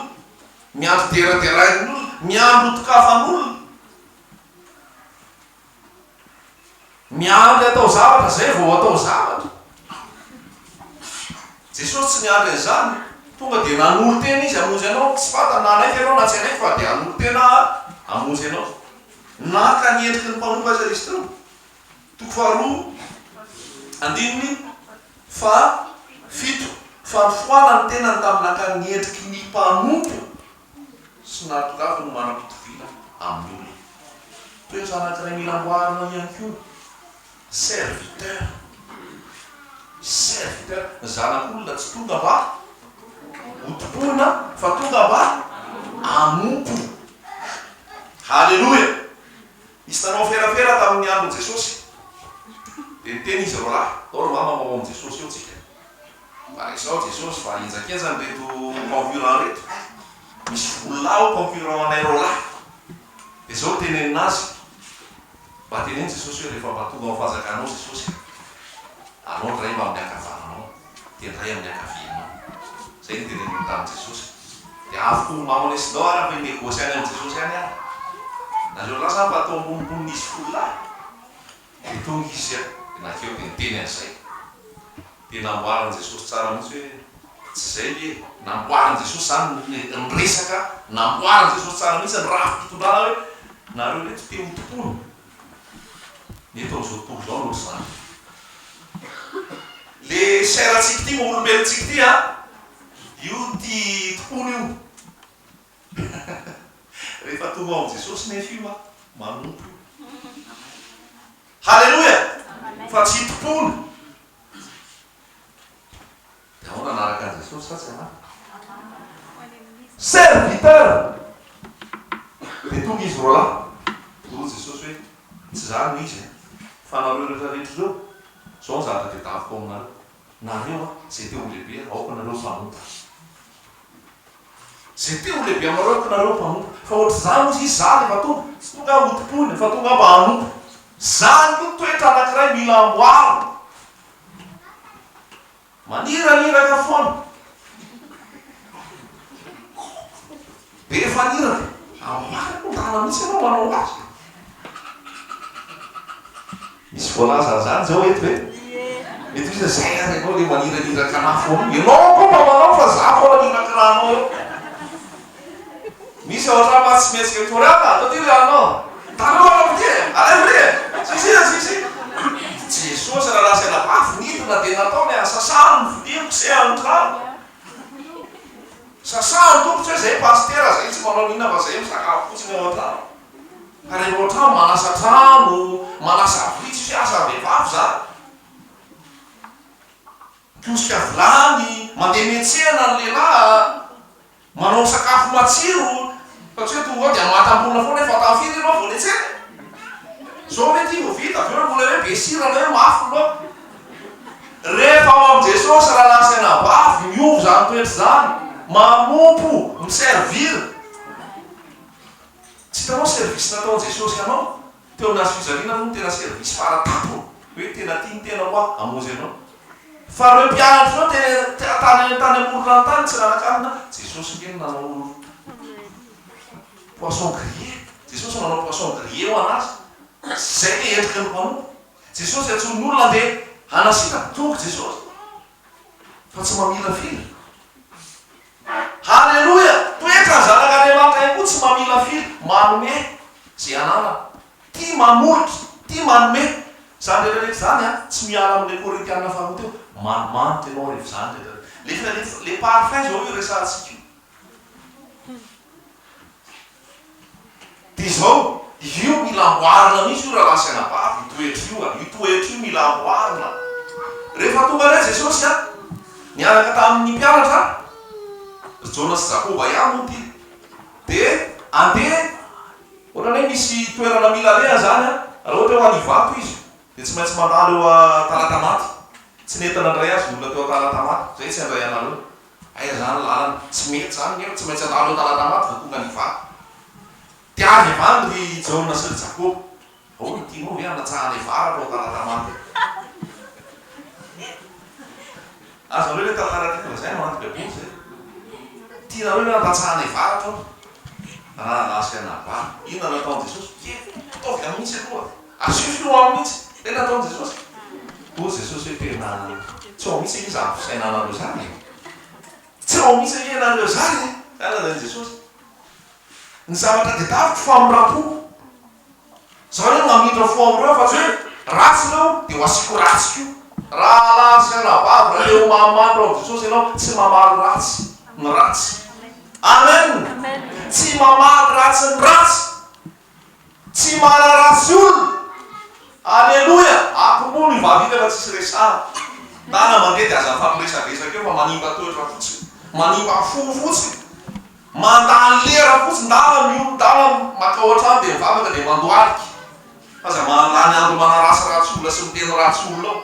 miandry hoderaderain'olona, miandry hotokafan'olona, miandry hatao zavatra izay vao hatao zavatra. Jesosy tsy niandry an'izany, tonga dia nanolo-tena Izy hamonjy anao, tsy fantany na hanaiky ianao na tsy hanaiky fa dia hanolo-tena hamonjy anao. Naka ny endriky ny mpanompo aza izy teo. Toko faharoa andininy faha fito, Fa nifohala ny tenany tamin'ny nakany ny endriky ny mpanompo sy nahatongavany ho manam-pitoviana amin'ny olona. Toetra anankiray mila amboarina ihany koa, serviteur, serviteur, ny zanak'olona tsy tonga mba hotompoina fa tonga mba hanompo. Haleloia! Nisy nanao ferafera tamin'ny andron'i Jesosy, dia niteny izy roalahy, Tao ry mama ho ao amin'i Jesosy ao tsika. Fa resao Jesosy fa henjakenja an'ireto concurrents ireto. Misy vola ao concurrents anay roalahy. Dia izao no tenenina azy, Mba teneno Jesosy hoe rehefa mba tonga ao amin'ny fanjakanao Jesosy a, anao indray mba amin'ny ankavananao. dia ndray amin'ny ankavianao. Izay no teneniny tamin'i Jesosy. Dia avy koa momba anao lesy ndao ary avy negosy any amin'i Jesosy any ary. Nareo lahy sa mba toa amponinponin' izy folo lahy? Dia tonga izy dia nankeo dia niteny an'izay. Dia namboarin'i Jesosy tsara mihitsy hoe, Tsy izay ve e? Namboarin'i Jesosy izany ny ny resaka, namboarin'i Jesosy tsara mihitsy ny rafi-pitondrana hoe, Nareo reto te ho tompony. Eto amin'izao tontolo izao no zara. Le chair-ntsika ity, olombelontsika ity an, io tia tompony io. Rehefa tonga ao amin'i Jesosy nefa io an, manompo io. Haleloia! Fa tsy tompony. Ianao nanaraka an'i Jesosy sa tsy anaraka? Serviteur! Dia tonga izy roa lahy, dia hoy Jesosy hoe, Tsy izaho no izy an! Fa nareo rehetra rehetra ireo, izao ny zavatra tedaviko aminareo, nareo an, izay te ho lehibe aoka nareo mpanompo. Izay te ho lehibe aminareo aoka nareo mpanompo. Fa ohatr'izany hozy izy, za rehefa tonga, tsy tonga aho hotompoina, fa tonga aho mba hanompo. Izany koa toetra anankiray mila amboarina. Maniraniraka foana. Be faniraka. Ary marina io, rariny mihitsy ianao manao azy. Misy voalaza an'izany izao eto ve? Mety misy hoe, zay ary ianao ilay maniraniraka anà foana io. Ianao koa mba manao fa izaho foana mirakirahanao eo. Misy ao antrano mantsy tsy maintsy mitory ato a! Toty ry anao! Taloha anao toty e! Aleo ry e! Sisy iza sisy? I Jesosy raha lazaina bavy nidina dia nataony a! Sasaho ny vilia kosehano ny tranoko! Sasaho ny tongotra hoe zay pasitera zay tsy manao n'inona fa zay misakafo fotsiny ao antrano! Ka rehefa ao antrano manasa trano, manasa vilia tsy misy asa ny vehivavy zany! Mikiosika vilany, mandeha miantsena ny lehilahy a! Manao sakafo matsiro fa tsy hoe tonga ao dia matamborona foana efa tafita ianao vao netsena e! Zao ve ity vao vita? Avy eo mbola hoe be sira na hoe mafy ny laoka? Rehefa ao amin'i Jesosy raha nasaina bavy miova izany toetra izany, manompo, mi-servir. Tsy hitanao service nataon'i Jesosy anao? Teo nahazo fijaliana aloha ny tena service fara tampony hoe tena tia ny tena hoa hamonjy anao. Fa ireo mpianatry ireo tena teratany any tany amoron'ranontany tsy nanakarina Jesosy nge no nanao poisson grillé. Jesosy no nanao poisson grillé ho anazy. Zay ve endriky ny mpanompo. Jesosy antsoin' ny olona andeha hanasitaka. Tonga Jesosy fa tsy mamirafira. Haleloia! Toetra ny zanak'Andriamanitra ihany koa tsy mamilafila, manome ze ananany. Tia manolotra, tia manome. Zany rehetra rehetra zany an, tsy miala amle Korintiana faharoa teo, manimanitra ianao rehefa zany rehetra rehetra. Le le parfum zao io resahantsika io. Dia izao, io mila amboarina mihitsy io rahalahy sy anabavy, io toetra io a! Io toetra io mila amboarina. Rehefa tonga indray Jesosy an, niaraka tamin'ny mpianatra, ry Jaona sy Jakoba ihany moa ity, dia andeha, ohatran'ny hoe misy toerana mila alehany izany an, raha ohatra hoe ho any Ivato izy, dia tsy maintsy mandalo eo Talatamaty, tsy nentina handray azy ny olona teo Talatamaty, izay tsy handray anareo, Aiza zany lalana? Tsy mety zany nefa tsy maintsy handalo an-dalana maty vao tonga ny vato. Te avy havandy ry Jaona sy ry Jakoba. Ahoana, tianao ve hanatsahanay vary atao an-dalana maty? Azonareo ilay tantara tiako lazaina ao anaty Baiboly izay? Tianareo ve hanatsahanay vary atao raha lasa i Anabary? Inona no nataon'i Jesosy? Kely, ataovy amin'isa aloha. Asio finoa aminy mihitsy ilay nataon'i Jesosy. Hoy Jesosy hoe tena tsy ao mihitsy anie izany fisainanareo izany e. Tsy ao mihitsy anie ianareo izany e. Izany lazain'i Jesosy. Ny zavatra tedaviko famindram-poko. Izaho anie no hamindra fo amin'ireo fa tsy hoe ratsy ireo dia ho asiako ratsy koa. Rahalahy sy anabavy, raha te-ho mahamandra ao amin'i Jesosy ianao, tsy mamaly ratsy ny ratsy. Amen! Tsy mamaly ratsy ny ratsy. Tsy manaratsy olona. Aleloia! Akomono io vavy io nefa tsisy resahana. Tana mandeha dia aza afa miresadresaka eo fa manimba toetra fotsiny, manimba fo fotsiny. Mandany lera fotsiny, ndana mihono, ndana makao an-trano dia mivavaka dia mandohalika. Aza mandany andro manarasy ratsy olona sy miteny ratsy olona ao.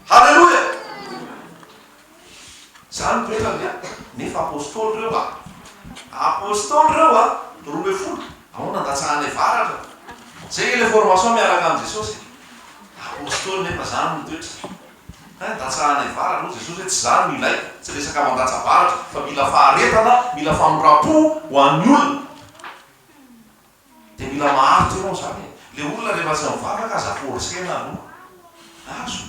Aleloia! Zany ny toetrany a! Nefa apostoly reo a! Apostoly reo a! Roa ambin'ny folo ao nandatsahanay varatra. Zay nge le formation miaraka am Jesosy e! Apostoly nefa zany ny toetrany. Hein datsahanay varatra hoy Jesosy hoe tsy zany no ilaiko, tsy resaka mandatsa varatra fa mila faharetana, mila famoram-po ho an'ny olona. Dia mila maharitra ianao izany e. Ilay olona rehefa tsy mivavaka aza forcer-na aloha. Azo.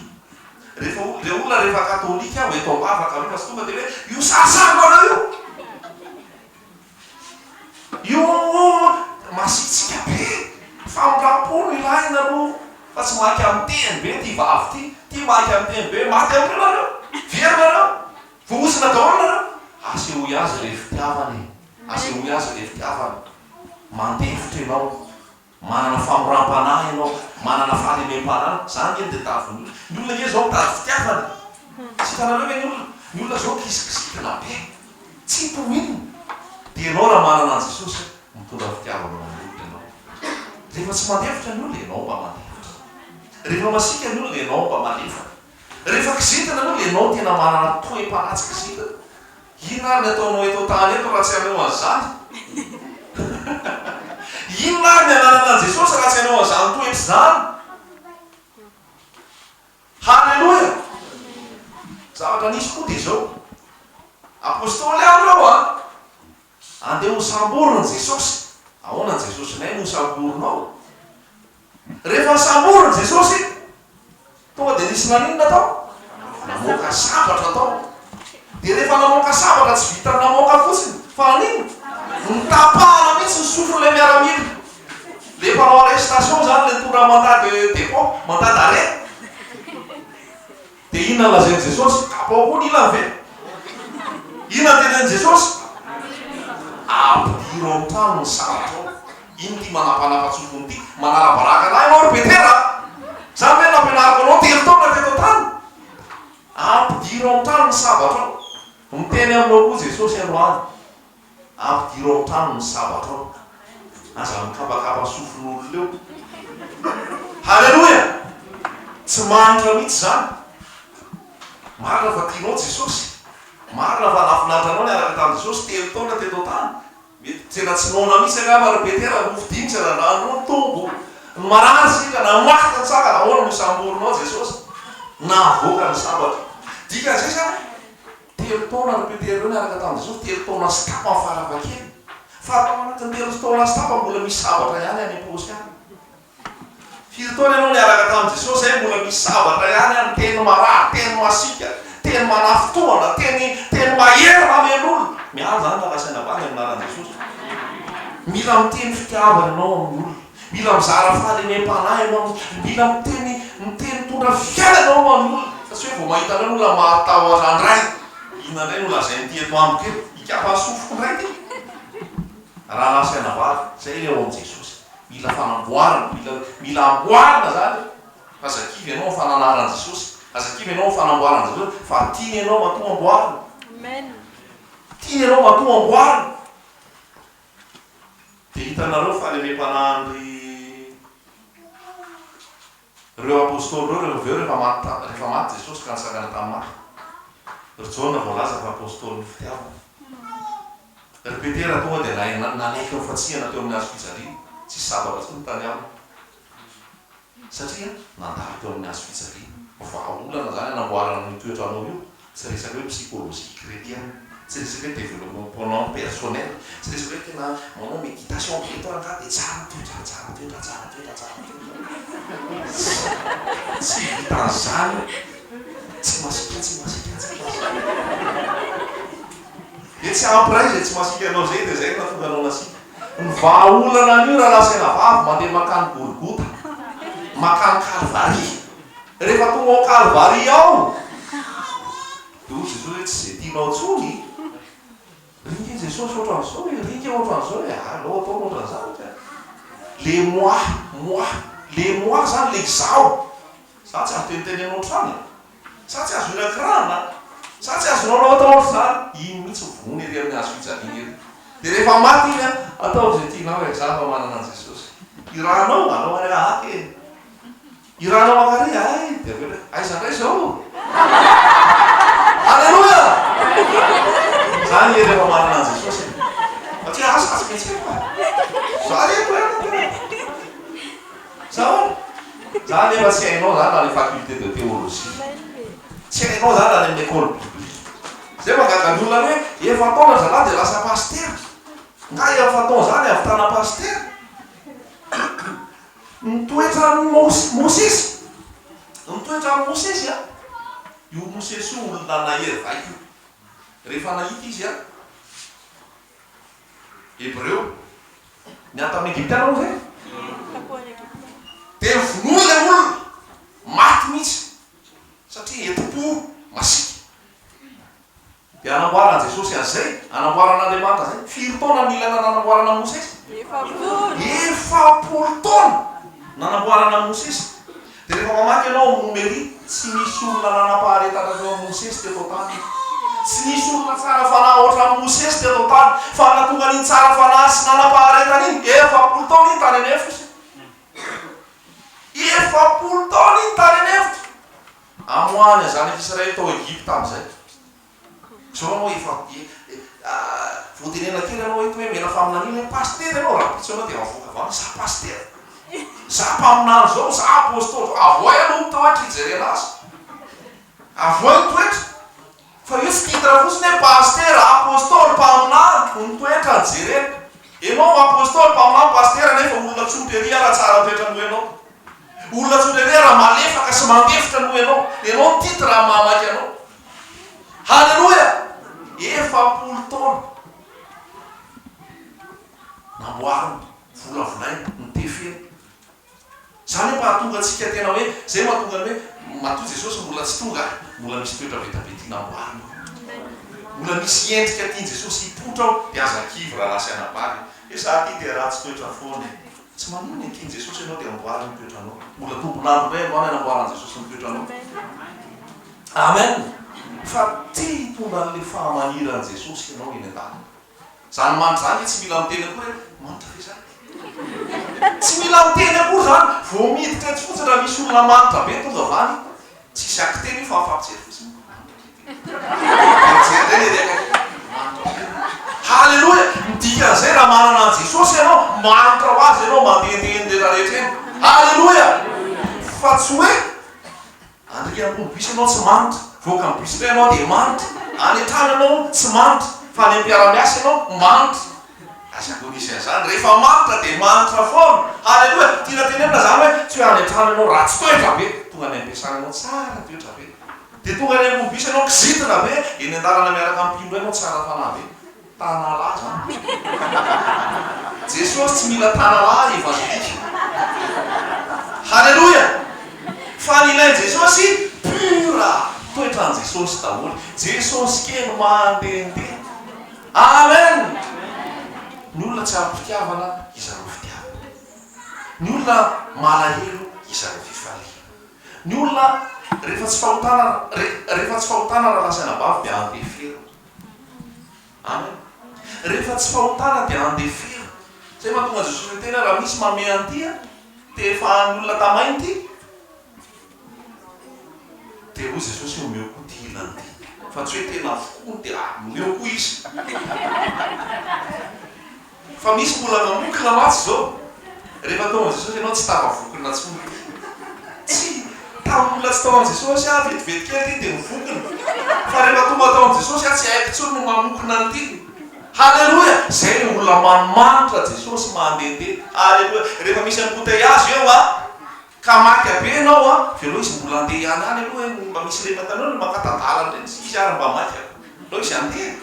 Rehefa olona, ilay olona rehefa katolika aho eto am-bavaka aloha fa tsy tonga dia hoe io sarisariko anao io. Io masiatsiaka be. Famindram-po no ilaina aloha fa tsy maika miteny be ity vavy ity. Ity maika miteny be. Maty amin'io nareo. Very nareo. Voahozona daholo nareo. Asehoy azy ilay fitiavana e. Asehoy azy ilay fitiavana. Mandeha hevitra ianao. Manana famoram-panahy ianao. Manana fahalemem-panahy. Izany ve no dia tadidin'ny olona? Ny olona ange izao mitady fitiavana e! Tsy hitanareo ve ny olona? Ny olona izao kisikisikina be. Tsy to win. Dia ianao raha manana an'i Jesosy, mitondra fitiavana ho an'ny olona ianao. Rehefa tsy mandefitra ny olona, ianao mba mandefitra. Rehefa masiaka ny olona, ianao mba malefaka. Rehefa kizitina aloha ianao tena manana toe-panahy tsy kizitina. Inona ary ny ataonao eto an-tany eto raha tsy hanao an'izany? Inona ary ny ananana an'i Jesosy raha tsy hanao an'izany toetra izany? Haleloia! Zavatra nisy koa dia izao, Apostoly aho ireo a! Andeha hosamborin'i Jesosy. Ahoana ny Jesosinay no hosamborinao? Rehefa nisamborina Jesosy, tonga dia nisy naninona tao? Namoaka sabatra tao. Dia rehefa namoaka sabatra, tsy vitan'ny namoaka fotsiny, fa naninona? Notapahana mihitsy ny sofin'ilay miaramila. Ilay mpanao arrestation izany, ilay tonga mandat de dépôt, mandat d'arrêt. Dia inona no lazain'i Jesosy? Tapaho koa ny ilany ve? Inona no tenenin'i Jesosy? Ampidiro an-trano ny saratrao. Ino ity manapanapa-tsofina ity? Manala-baraka lahy ianao ry Petera a! Izany ve no nampianariko anao telo taona teto an-tany? Ampidiro an-trano ny sabatrao. Miteny aminao koa Jesosy androany. Ampidiro ao an-trano ny sabatra ao. Aza mikabakaba sofin'olona eo. Haleloia! Tsy mahantra mihitsy izany. Marina fa tianao Jesosy. Marina fa lavorary anao niaraka tamin'i Jesosy telo taona teto an-tany. Mety tena tsy noana mihitsy angamba ry Petera no hofidiany tsy hanandrano ny tombo. Ny marary isika na maty na tsangana ahoana no hisamborinao Jesosy? Nahavoaka ny sabatra. Dikan'izay izany hoe. Telo taona ry Petera ireo niaraka tamin'i Jesosy, telo taona sy tapany farafahakeliny. Fa tao anatin'ny telo taona sy tapany mbola misy sabatra ihany any am-paosy ihany. Firy taona ianao niaraka tamin'i Jesosy izay mbola misy sabatra ihany any, teny marary, teny masiaka, teny manafintohina, teny teny mahery mamely olona. Miandry izany raha lazaina banga ny anaran'i Jesosy. Mila miteny fitiavana ianao amin'ny olona. Mila mizara fahalemem-panahy ianao mihitsy. Mila miteny miteny mitondra fiainana ianao ho an'ny olona. Fa tsy hoe vao mahita an'ireny olona mahatahotra indray. Inona indray no lazain'ity eto amiko eto? Ikapa ny sofiko indray ity. Rahalahy sy anabavy, izay ilay ao amin'i Jesosy. Mila fanamboarana. Mila mila amboarina izany. Aza kivy ianao amin'ny fananaran'i Jesosy. Aza kivy ianao amin'ny fanamboaran'i Jesosy. Fa tiany ianao matoa amboarina. Tiany ianao matoa amboarina. Dia hitanareo fa lemem-panahin-dry reo Apostoly reo rehefa avy eo rehefa maty ta, rehefa maty Jesosy ka nisangana tamin'ny maty. Ry Jaona voalaza fa Apostolin'ny fitiavana. Ry Petera tonga dia na, nanaiky ny fatsihana teo amin'ny hazo fijaliana, tsisy sabatra intsony tany aminy. satria nandalo teo amin'ny hazo fijaliana. Vahaolana izany hanamboarana an'io toetranao io, tsy resaka hoe psychologie chretienne, tsy resaka hoe developement personnel, tsy resaka hoe tena manao méditation be eto rangaha dia tsara toetra, tsara toetra, tsara toetra, tsara toetra. Tsy, tsy vitan'izany io. Tsy masiaka, tsy masiaka, tsy masiaka. Dia tsy après izay tsy masiaka anao izay dia izay no nahatonga anao nasiaka. Ny vahaolana an'io rahalahy sy rahavavy mandeha mankany Golgota, mankany Kalvary. Rehefa tonga ao Kalvary ao, dia hoy Jesosy hoe, tsy izay tianao intsony. Ringa i Jesosy ohatran'izao e, ringa ohatran'izao e, alao ataony ohatran'izany ka. Le moi, moi, le moi izany le izaho. Izaho tsy azo teniteny anao hatrany e. Sa tsy azo hira kirarona? Sa tsy azo lalao atao ohatr'izany? Iny mihitsy no vonoina ery amin'ny hazo fijaliana ery. Dia rehefa maty iny an, ataovy izay tianao e, izaho mba manana an'i Jesosy. Hirahanao? Alao ary hahaka e! Hirahanao mankary? Hay! Dia avy eo indray, aiza indray izao? Aleloia! Izany ery efa manana an'i Jesosy e! Fa tsy hahasazy mihitsy aho e! Za re, koa ianao, koa ianao. Zao e! Za nefa tsy hainao zany any faculté de théologie. Tsy hainao zany any amin'ny école biblique. Zay mahagaga ny olona hoe efa taona ry zalahy dia lasa pasitera. Nga efa taona zany hahavitana pasitera? Ny toetran'i Mos, Mosesy. Ny toetran'i Mosesy a! Io Mosesy io olona nahery vaika io. Rehefa nahita izy a! Hebreo? Niato amin'ny Egyptiana moa ve? Dia vonoiny ilay olona, maty mihitsy, satria hetim-po masiaka. Dia anamboaran'i Jesosy azy izay, anamboaran'Andriamanitra izay. Firy taona no nila nanamboarana an'i Mosesy? Efapolo taona nanamboarana an'i Mosesy. Dia rehefa mamaky ianao amin'ny Homelia, tsy nisy olona nanam-paharetana teo amin'i Mosesy teto an-tany. Tsy nisy olona tsara fanahy hoatran'i Mosesy teto an-tany. Fa nahatonga an'iny tsara fanahy sy nanam-paharetana iny, efapolo taona iny tany an'efitra izy. Efapolo taona iny tany an'efitra! Amoahany ny zanak'Israely tao Egypta amin'izay. Zao anao efa voatenena kely anao eto hoe mena faminaniana hoe pasitera ianao rahampitso ianao dia mavoaka valiny za pasitera za mpaminany zao za apostoly zao avoay aloha ny toetra hijerena azy avoay ny toetra fa io tsy titre fotsiny hoe pasitera apostoly mpaminany no toetra no jerena ianao apostoly mpaminany pasitera nefa olona tsotra ery ara tsara toetra noho ianao olona tsotra ery ara malefaka sy mandefitra noho ianao ianao ny titre amin'ny maha maika anao Haleloia! Efapolo taona namboariny, volavolainy, notefeny. Izany hoe mba hahatonga antsika tena hoe, izay mahatonga ny hoe, matoa Jesosy mbola tsy tonga aho, mbola misy toetra vita be tiana amboarina ao. Mbola misy endrika tian'i Jesosy hipoitra ao, dia aza kivy raha lasa anabavy e. Hoe za ty dia ratsy toetra foana e. Tsy manohy ny akin' Jesosy ianao dia amboary ny toetranao. Mbola tombo lany indray androany hanamboaran' Jesosy ny toetranao. Amen! Fa te hitondra an'ilay fahamaniran' Jesosy ianao eny an-dalana. Izany manitra izany ve tsy mila miteny akory hoe manitra ve za? Tsy mila miteny akory izany. Vao miditra etsy fotsiny raha misy olona manitra be tonga avy any, tsy hisy akiteny io fa afa-mijery fotsiny, manitra ve? Haleloia! Ny dikan'izay raha manana an'i Jesosy ianao, mahantra ho Azy ianao mandehandeha eny rehetra rehetra eny. Haleloia! Fa tsy hoe andeha ambony bus ianao tsy manitra, voaka amin'ny bus indray ianao dia manitra, any an-trano ianao tsy manitra, fa any am-piara-miasa ianao manitra. Aza andonisena izany, rehefa manitra dia manitra foana. Haleloia! Tiana tenenina izany hoe tsy hoe any an-trano ianao ratsy toetra be, tonga any am-piasana ianao tsara toetra be. Dia tonga any ambony bus ianao kizitina ve eny an-dalana miaraka amin'ny mpino iray ianao tsy ara-panahy ve? Tanalahy izany no bus-ko. Jesoa tsy mila tanalahy evanjelika. Haleloia! Fa ny ilain'i Jesosy pure, toetran'i Jesosy daholo. Jesosy kely mandehandeha. Amen! Ny olona tsy ara-pitiavana izaroa fitiavana. Ny olona malahelo izaroa fifaliana. Ny olona rehefa tsy fahotana rehefa tsy fahotana raha lasa anabavy dia andeferina. Amen. Rehefa tsy fahotana dia andeferina. Zay mahatonga Jesosy miteny hoe raha misy mame an'ity an, te efa an'ny olona tamainy ity, dia hoy Jesosy hoe omeo koa ty ilany ty. Fa tsy hoe tena avokoany dia omeo koa izy. Fa misy mbola mamokona mantsy izao. Rehefa tao amin'i Jesosy ianao tsy tavavokona intsony. Tsia, tamin'ny mbola tsy tao amin'i Jesosy aho vetivety kely ity dia mivokona. Fa rehefa tonga tao amin'i Jesosy aho tsy haiko intsony ny mamokona an'ity. Haleloia! Izay ilay olona manimanitra Jesosy mandehandeha. Haleloia! Rehefa misy embouteillages eo an, ka maika be ianao an, velao izy mbola handeha ihany any aloha e, mba misy ireny matanao ireny mankatà-dalana ireny, izy ary mba maika, aleo izy handeha.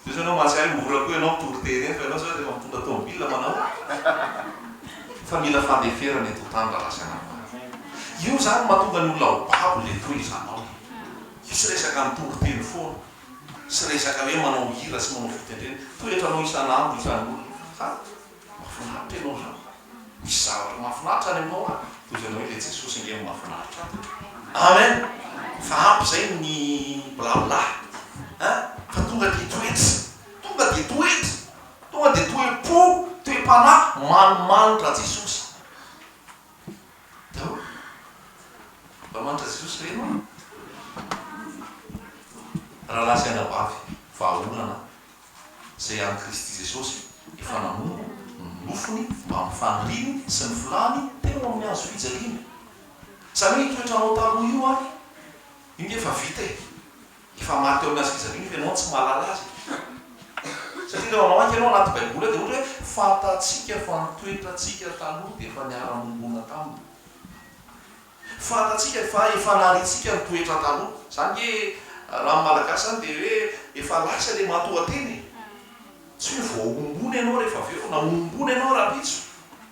Zao izao ianao mahatsiaro hoe mora koa ianao mitondro TNF ianao zao rehefa mitondra tomobile manao fa mila fandeferana eto tany raha lasa ianao marary. Io zany no mahatonga ny olona ho babo le tohizanao. Io tsy resaka mitondro teny foana sy resaka hoe manao hira sy manao fitendrena. Toetranao isan'andro isan'olona fa Mahafinaritra ianao zany. Misy zavatra mahafinaritra any aminao an, toy izay anao hoe ilay Jesosy ange no mahafinaritra an. Amen. Fa ampy izay ny blabla an, fa tonga dia toetra, tonga dia toetra, tonga dia toe-po, toe-panahy manimanitra Jesosy daholo. Manimanitra Jesosy ve ianao? Rahalahy sy anabavy, vahaolana izay amin'i Kristy Jesosy efa namono ny nofony mba amin'ny faniriany sy ny filàny teo amin'ny hazo fijaliana. Izany hoe io toetranao taloha io ary iny dia efa vita e! Efa maty teo amin'ny hazo fijaliana fa ianao tsy mahalala azy e! Satria raha mamaky ianao anaty baiboly dia ohatra hoe fantatsika fa ny toetrantsika taloha dia efa niara-niombona taminy. Fantatsika fa efa lalintsika ny toetra taloha. Zany nge raha ny malagasy zany dia hoe efa lasa le matoantena e! Tsy hoe voahombona ianao rehefa avy eo na hohombona ianao rahampitso.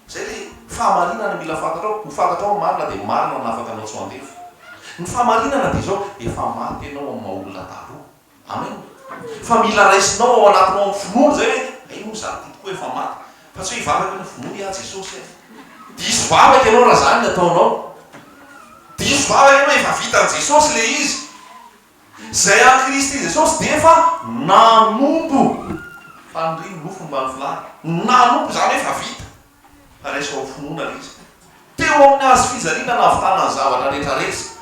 Zay le fahamarinana mila fantatrao. Ho fantatrao ny marina dia marina ny afaka anao tsy ho andevo. Ny fahamarinana dia izao, efa maty ianao amin'ny maha olona taloha. Amen! Fa mila raisinao ao anatinao amin'ny finoana izay ve? Hay moa izany tompoko hoe efa maty fa tsy hoe hivavaka hoe vonoy aho Jesosy eh! Diso vavaka ianao raha izany ny ataonao. Diso vavaka ianao, efa vitan'i Jesosy ilay izy. Izay an'i Kristy Jesosy dia efa nanompo. Fanirian'ny nofo ny mba ny filany. Nanompo izany hoe efa vita. Raiso amin'ny finoana ve izy? Teo amin'ny hazo fijaliana nahavitana ny zavatra rehetra rehetra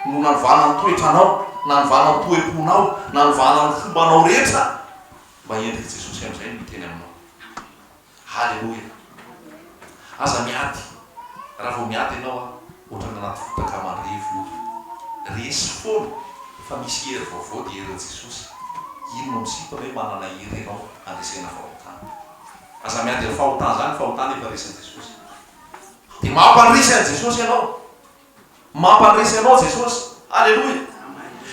no nanovana ny toetranao, nanovana ny toe-ponao, nanovana ny fombanao rehetra mba endrik'i Jesosy amin'izay no hiteny aminao. Haleloia! Aza miady, raha vao miady ianao a, ohatran'ny anaty fotaka mandrevy io. Resy foana fa misy hery vaovao dia herin'i Jesosy. Iny no misintona hoe manana hery ianao handresena fahotana. Aza miandry ny fahotana zany, ny fahotana efa resin'i Jesosy. Dia mampanrisy an'i Jesosy ianao. Mampanrisy anao Jesosy. Aleloia.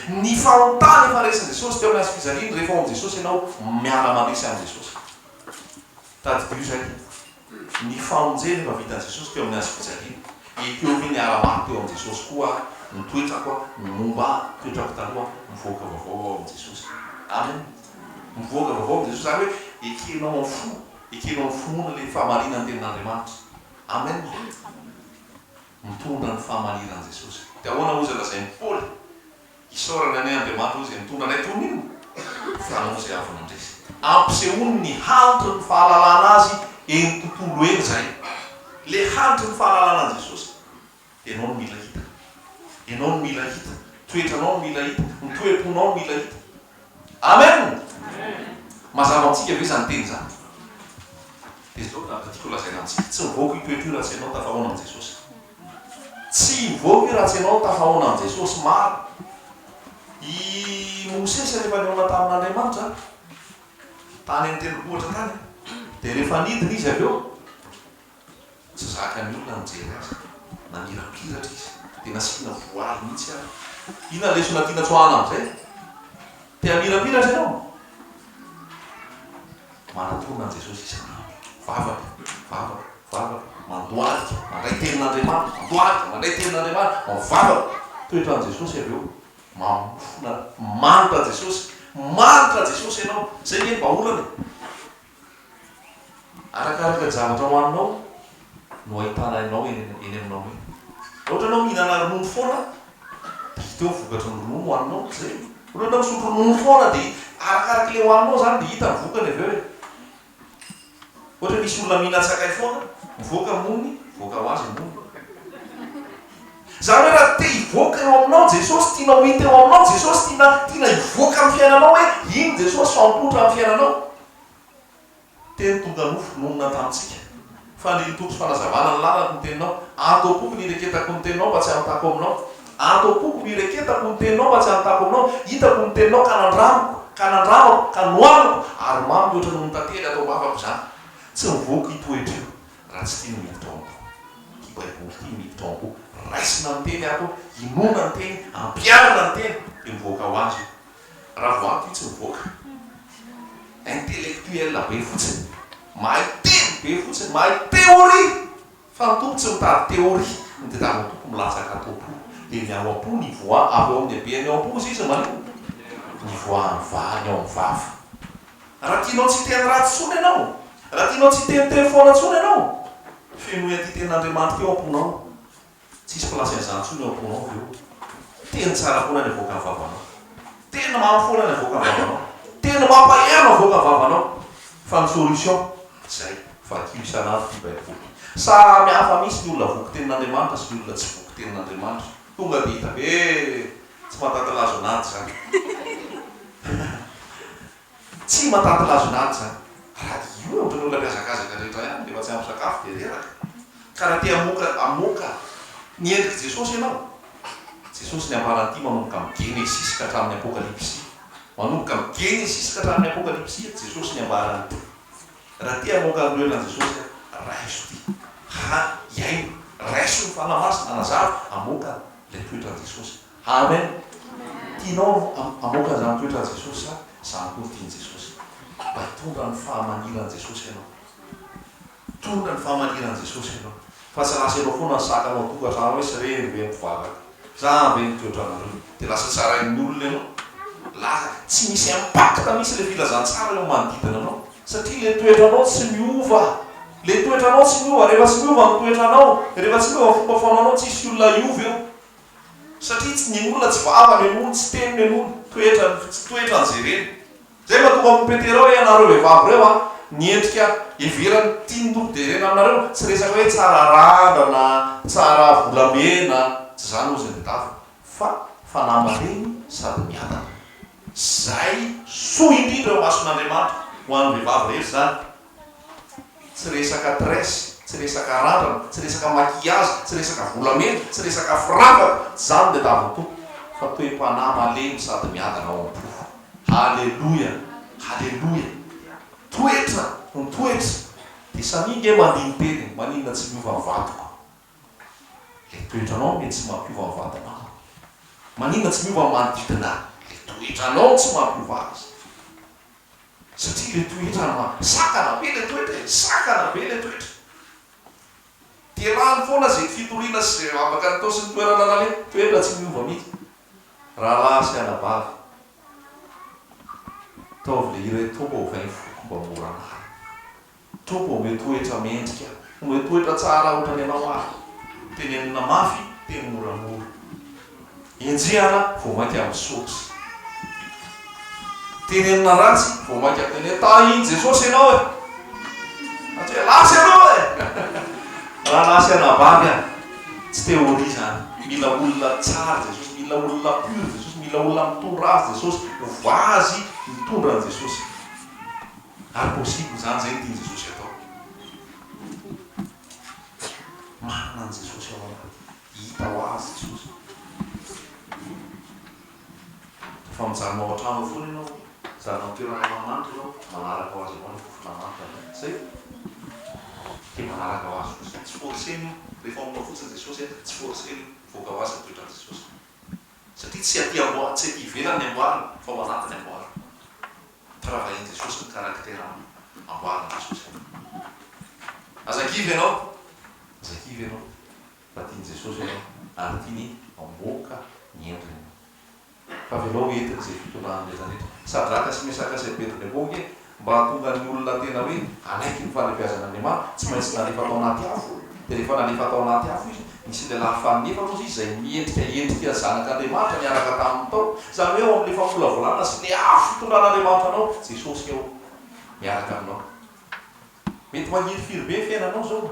Ny fahotana efa resin'i Jesosy teo amin'ny hazo fijaliany, rehefa ao amin'i Jesosy ianao, miala mandrisy an'i Jesosy. Tadidio izay. Ny famonjena efa vitan'i Jesosy teo amin'ny hazo fijaliany. Ekeo ve ny ara-maty teo amin'i Jesosy koa aho, ny toetrako aho, ny momba ahy, ny toetrako taloha, mivoaka vaovao aho ao amin'i Jesosy. Amen. Mivoaka vaovao amin'i Jesosy, izany hoe ekenao amin'ny fo, ekenao amin'ny finoana ilay fahamarinan'ny tenin'Andriamanitra. Amen! Mitondra ny fahamaniran'i Jesosy. Dia ahoana hoy izay lazain'i Paoly? Isaorany anay Andriamanitra hoy izay mitondra anay toy ny inona? Fanao izay avy nandresy. Ampisehoany ny hanitry ny fahalalana Azy eny tontolo eny izay. Ilay hanitry ny fahalalana an'i Jesosy. Ianao no mila hita. Ianao no mila hita. Ny toetranao no mila hita. Ny toe-ponao no mila hita. Amen! Mazava amintsika ve izany teny izany? Dia izao ny zavatra tiako holazaina amintsika, tsy mivoaka io toetra io raha tsy ianao tafahaona amin'i Jesosy. Tsy mivoaka io raha tsy ianao tafahaona amin'i Jesosy. Maro. I Mosesy rehefa nihaona tamin'Andriamanitra, tany amin'ny tendrombohitra tany, dia rehefa nidina izy avy eo, Tsy zakan'ny olona ny mijery azy. Namirapiratra izy. Dia nasiana voaly mihitsy ary. Inona ny lesona tiana tsoahana amin'izay? Te hamirapiratra ianao? Manatòna an'i Jesosy isan'andro. Vavaka, vavaka, vavaka. Mandohalika, mandray tenin'Andriamanitra. Mandohalika, mandray tenin'Andriamanitra. Mivavaka. Toetra an'i Jesosy avy eo. Mamofona. Manitra Jesosy. Manitra Jesosy ianao. Izay ve ny vahaolana e? Arakaraka ny zavatra hohaninao no ahitana anao eny aminao eny. Raha ohatra ianao mihinana ronono foana, dia hita eo ny vokatry ny ronono hohaninao, tsy izay? Raha ohatra ianao misotro ronono foana, dia arakaraka ilay hohaninao izany dia hita ny vokany avy eo e! Ohatra misy olona mihinan-tsakay foana, mivoaka mony, mivoaka ho azy ny mony. Izany hoe raha te hivoaka eo aminao Jesosy, tianao ho hita eo aminao Jesosy, tiana tiana hivoaka amin'ny fiainanao hoe iny Jesosy fa mipoitra amin'ny fiainanao. Teny tonga nofo, nonina tamintsika. Fanirian'ny Tompo sy fanazavana ny lalako ny Teninao. Ato am-poko ny ireketako ny Teninao mba tsy hanontako aminao. Ato am-poko no ireketako ny Teninao mba tsy hanontako aminao. Hitako ny Teninao ka nandramiko, ka nandramako, ka nohaniko, ary mamy mihoatra noho ny tantely ato am-bavako izany. Tsy mivoaka itoetra io. Raha tsy tia ny mitombo ity baiboly ity mitombo raisina ny teny ato hinoana ny teny ampianana ny teny dia mivoaka ho azy io raha vao ato io tsy mivoaka intellectuel be fotsiny mahay teny be fotsiny mahay théorie fa ny tompo tsy mitady théorie ny tadiavin'ny tompo milatsaka ato am-po dia ny ao am-po ny voa avy ao amin'ny habehan'ny ao am-po hozy izy maninona ny voa ny vahany ao amin'ny vava Raha tianao tsy hiteny ratsy intsony ianao, raha tianao tsy hiteny teny foana intsony ianao, fenoy an'ity tenin'Andriamanitra ity ao am-ponao. Tsy hisy place an'izany intsony eo am-ponao avy eo. Teny tsara foana ny avoakan'ny vavanao. Teny mamy foana ny avoakan'ny vavanao. Teny mampahery no avoakan'ny vavanao. Fa ny solution, izay, vakio isan'andro ity Baiboly. Samy hafa mihitsy ny olona voky tenin'Andriamanitra sy ny olona tsy voky tenin'Andriamanitra. Tonga dia hita be tsy matanty lazo an'ady izany. Tsy matanty lazo an'ady izany. Raha io no ataon'ny olona mihazakazaka rehetra ihany rehefa tsy ampy sakafo dia reraka. Ka raha te hamoaka hamoaka ny endrik'i Jesosy ianao, Jesosy niambaran'ity manomboka amin'ny Genesisy ka hatramin'ny Apokalypsy. Manomboka amin'ny Genesisy ka hatramin'ny Apokalypsy Jesosy niambaran'ity. Raha te hamoaka ny lohelan'i Jesosy aho, raiso ity, Haha, hihaino, raiso ny Fanahy Masina hanazava, hamoaka ilay toetran'i Jesosy. Amen! Tianao hamoaka izany toetran'i Jesosy sa izaho koa no tian'i Jesosy? Mba hitondra ny fahamaniran'i Jesosy ianao. Hitondra ny fahamaniran'i Jesosy ianao. Fa tsy lasa eo foana ny sakana ao an-tokantrano hoe tsy reny ve ny mpivavaka? Sa hany ve ny toetranareo? Dia lasa tsarain'ny olona ianao? Lasa tsy misy impact mihitsy ilay filazantsara eo amin'ny manodidina anao satria ilay toetranao tsy miova. Ilay toetranao tsy miova. Rehefa tsy miova ny toetranao, rehefa tsy miova ny fomba fanaonao, tsy hisy olona hiova eo satria tsy ny olona tsy vavany no eny, tsy teniny no eny, toetrany, toetrany izay reny. Zay no atao aminy Petera hoe ianareo vehivavy reo a ny endrika heverany tiany ho derena aminareo tsy resaka hoe tsara randrana tsara volamena tsy zany ozy ny daviny fa fanahy malemy sady miadana zay soa indrindra eo imason'Andriamanitra ho any vehivavy rehetra zany Tsy resaka tres, tsy resaka randrana, tsy resaka maquillage, tsy resaka volamena, tsy resaka firavaka, tsy izany ny diadaviny Tompo, fa toe-panahy malemy sady miadana ao am-po. Haleloia! Haleloia! Toetra no toetra, dia samia nge mandihy ny teniny, maninona tsy miova ny vatoko? Ilay toetranao no mety tsy mampiova ny vatanao an! Maninona tsy miova ny manodidina? Ilay toetranao no tsy mampiova azy. Satria ilay toetra ma, sakana be ilay toetra e, sakana be ilay toetra. Terahany foana izay fitoriana sy izay vavaka nitao sy ny toerana naleha. Toetra tsy miova mihitsy. Rahalahy sy anabavy, ataovy ilay hira hoe Toa ovain'ny foko mba mora marina. Tompo omeo toetra mendrika. Omeo toetra tsara otrany anao ahy. Tenenina mafy, teny moramora. Enjehana vao mainka amin'ny soksa. Tenenina ratsy vao mainka tenenina tahin'i Jesosy ianao e! Raha tsy hoe lasa ianao e! Raha lasa anabavy aho. Tsy théorie izany. Mila olona tsara Jesosy, mila olona pur Jesosy, mila olona mitondra azy Jesosy, ho vazy mitondra an'i Jesosy. Ary possible izany, izay no tian'i Jesosy hatao. Marina an'i Jesosy ao anaty, hita ho azy Jesosy. Fa mijanona ao an-trano ao foana ianao, mijanona amin'ny toerana mahamanitra ianao, manaraka ho azy avao ny fofona manitra avy any. Zay. Dia manaraka ho azy fotsiny. Tsy forcer-na io. Rehefa ao aminao fotsiny Jesosy a, tsy forcer-na io. Mivoaka ho azy ny toetran'i Jesosy. Satria tsy aty amboa, tsy aty ivelany ny amboariny, fa ao anaty ny amboariny. mpiravahin'i Jesosy ny karaktera amboarin'i Jesosy eto. Aza kivy ianao, aza kivy ianao fa tian'i Jesosy ianao ary tiany hamoaka ny endriny ianao. Fa avelao ho entiny izay fitondrany rehetra rehetra. Sadraka sy Mesaka sy Abednego ange mba hahatonga ny olona tena hoe hanaiky ny fahalebiazan'Andriamanitra tsy maintsy nalefa tao anaty afo. Dia rehefa nalefa tao anaty afo izy Nisy lehilahy fahaefatra ozy izay miendrika endrika zanak'Andriamanitra niaraka taminy tao, izany hoe ao amin'ilay famolavolana sy ilay afo fitondran'Andriamanitra anao, Jesosy ao miaraka aminao. Mety mahirifiry be ny fiainanao izao,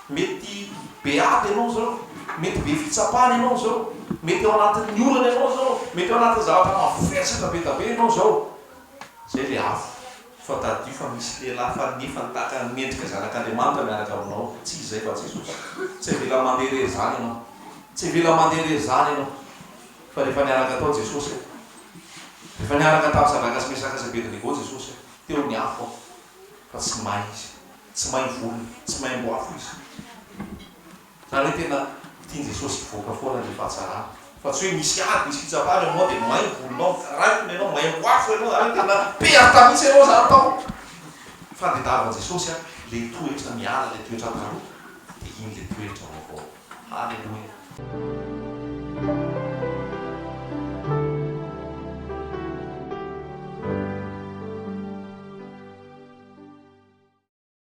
mety be ady ianao izao, mety be fitsapana ianao izao, mety ao anatin'ny orana ianao izao, mety ao anatin'ny zavatra mavesatra be dia be ianao izao, izay ilay afo. Fa tadidio fa misy lehilahy faly nefa nitaka ny mendrika zanak'Andriamanitra miaraka aminao. Tsy izay fa Jesosy. Tsy avela mandeha irery izany ianao. Tsy avela mandeha irery izany ianao. Fa rehefa niaraka tao Jesosy eh. Rehefa niaraka tamin'i Sadraka sy Mesaka sy Abednego Jesosy eh. Teo ny afo eh. Fa tsy may izy. Tsy may volona. Tsy may amboafo izy. Zany hoe tena tian'i Jesosy hivoaka foana ny fahatsarana fa tsy hoe misy ady, misy fitsapana eo aminao dia may ny volonao, raikitra ianao, may amin'ny afo ianao, zany hoe tena perte mihitsy ianao zany tao. Fa dia tadiavin'i Jesosy an, ilay toetra miala ilay toetra taloha dia iny ilay toetra vaovao. Haleloia.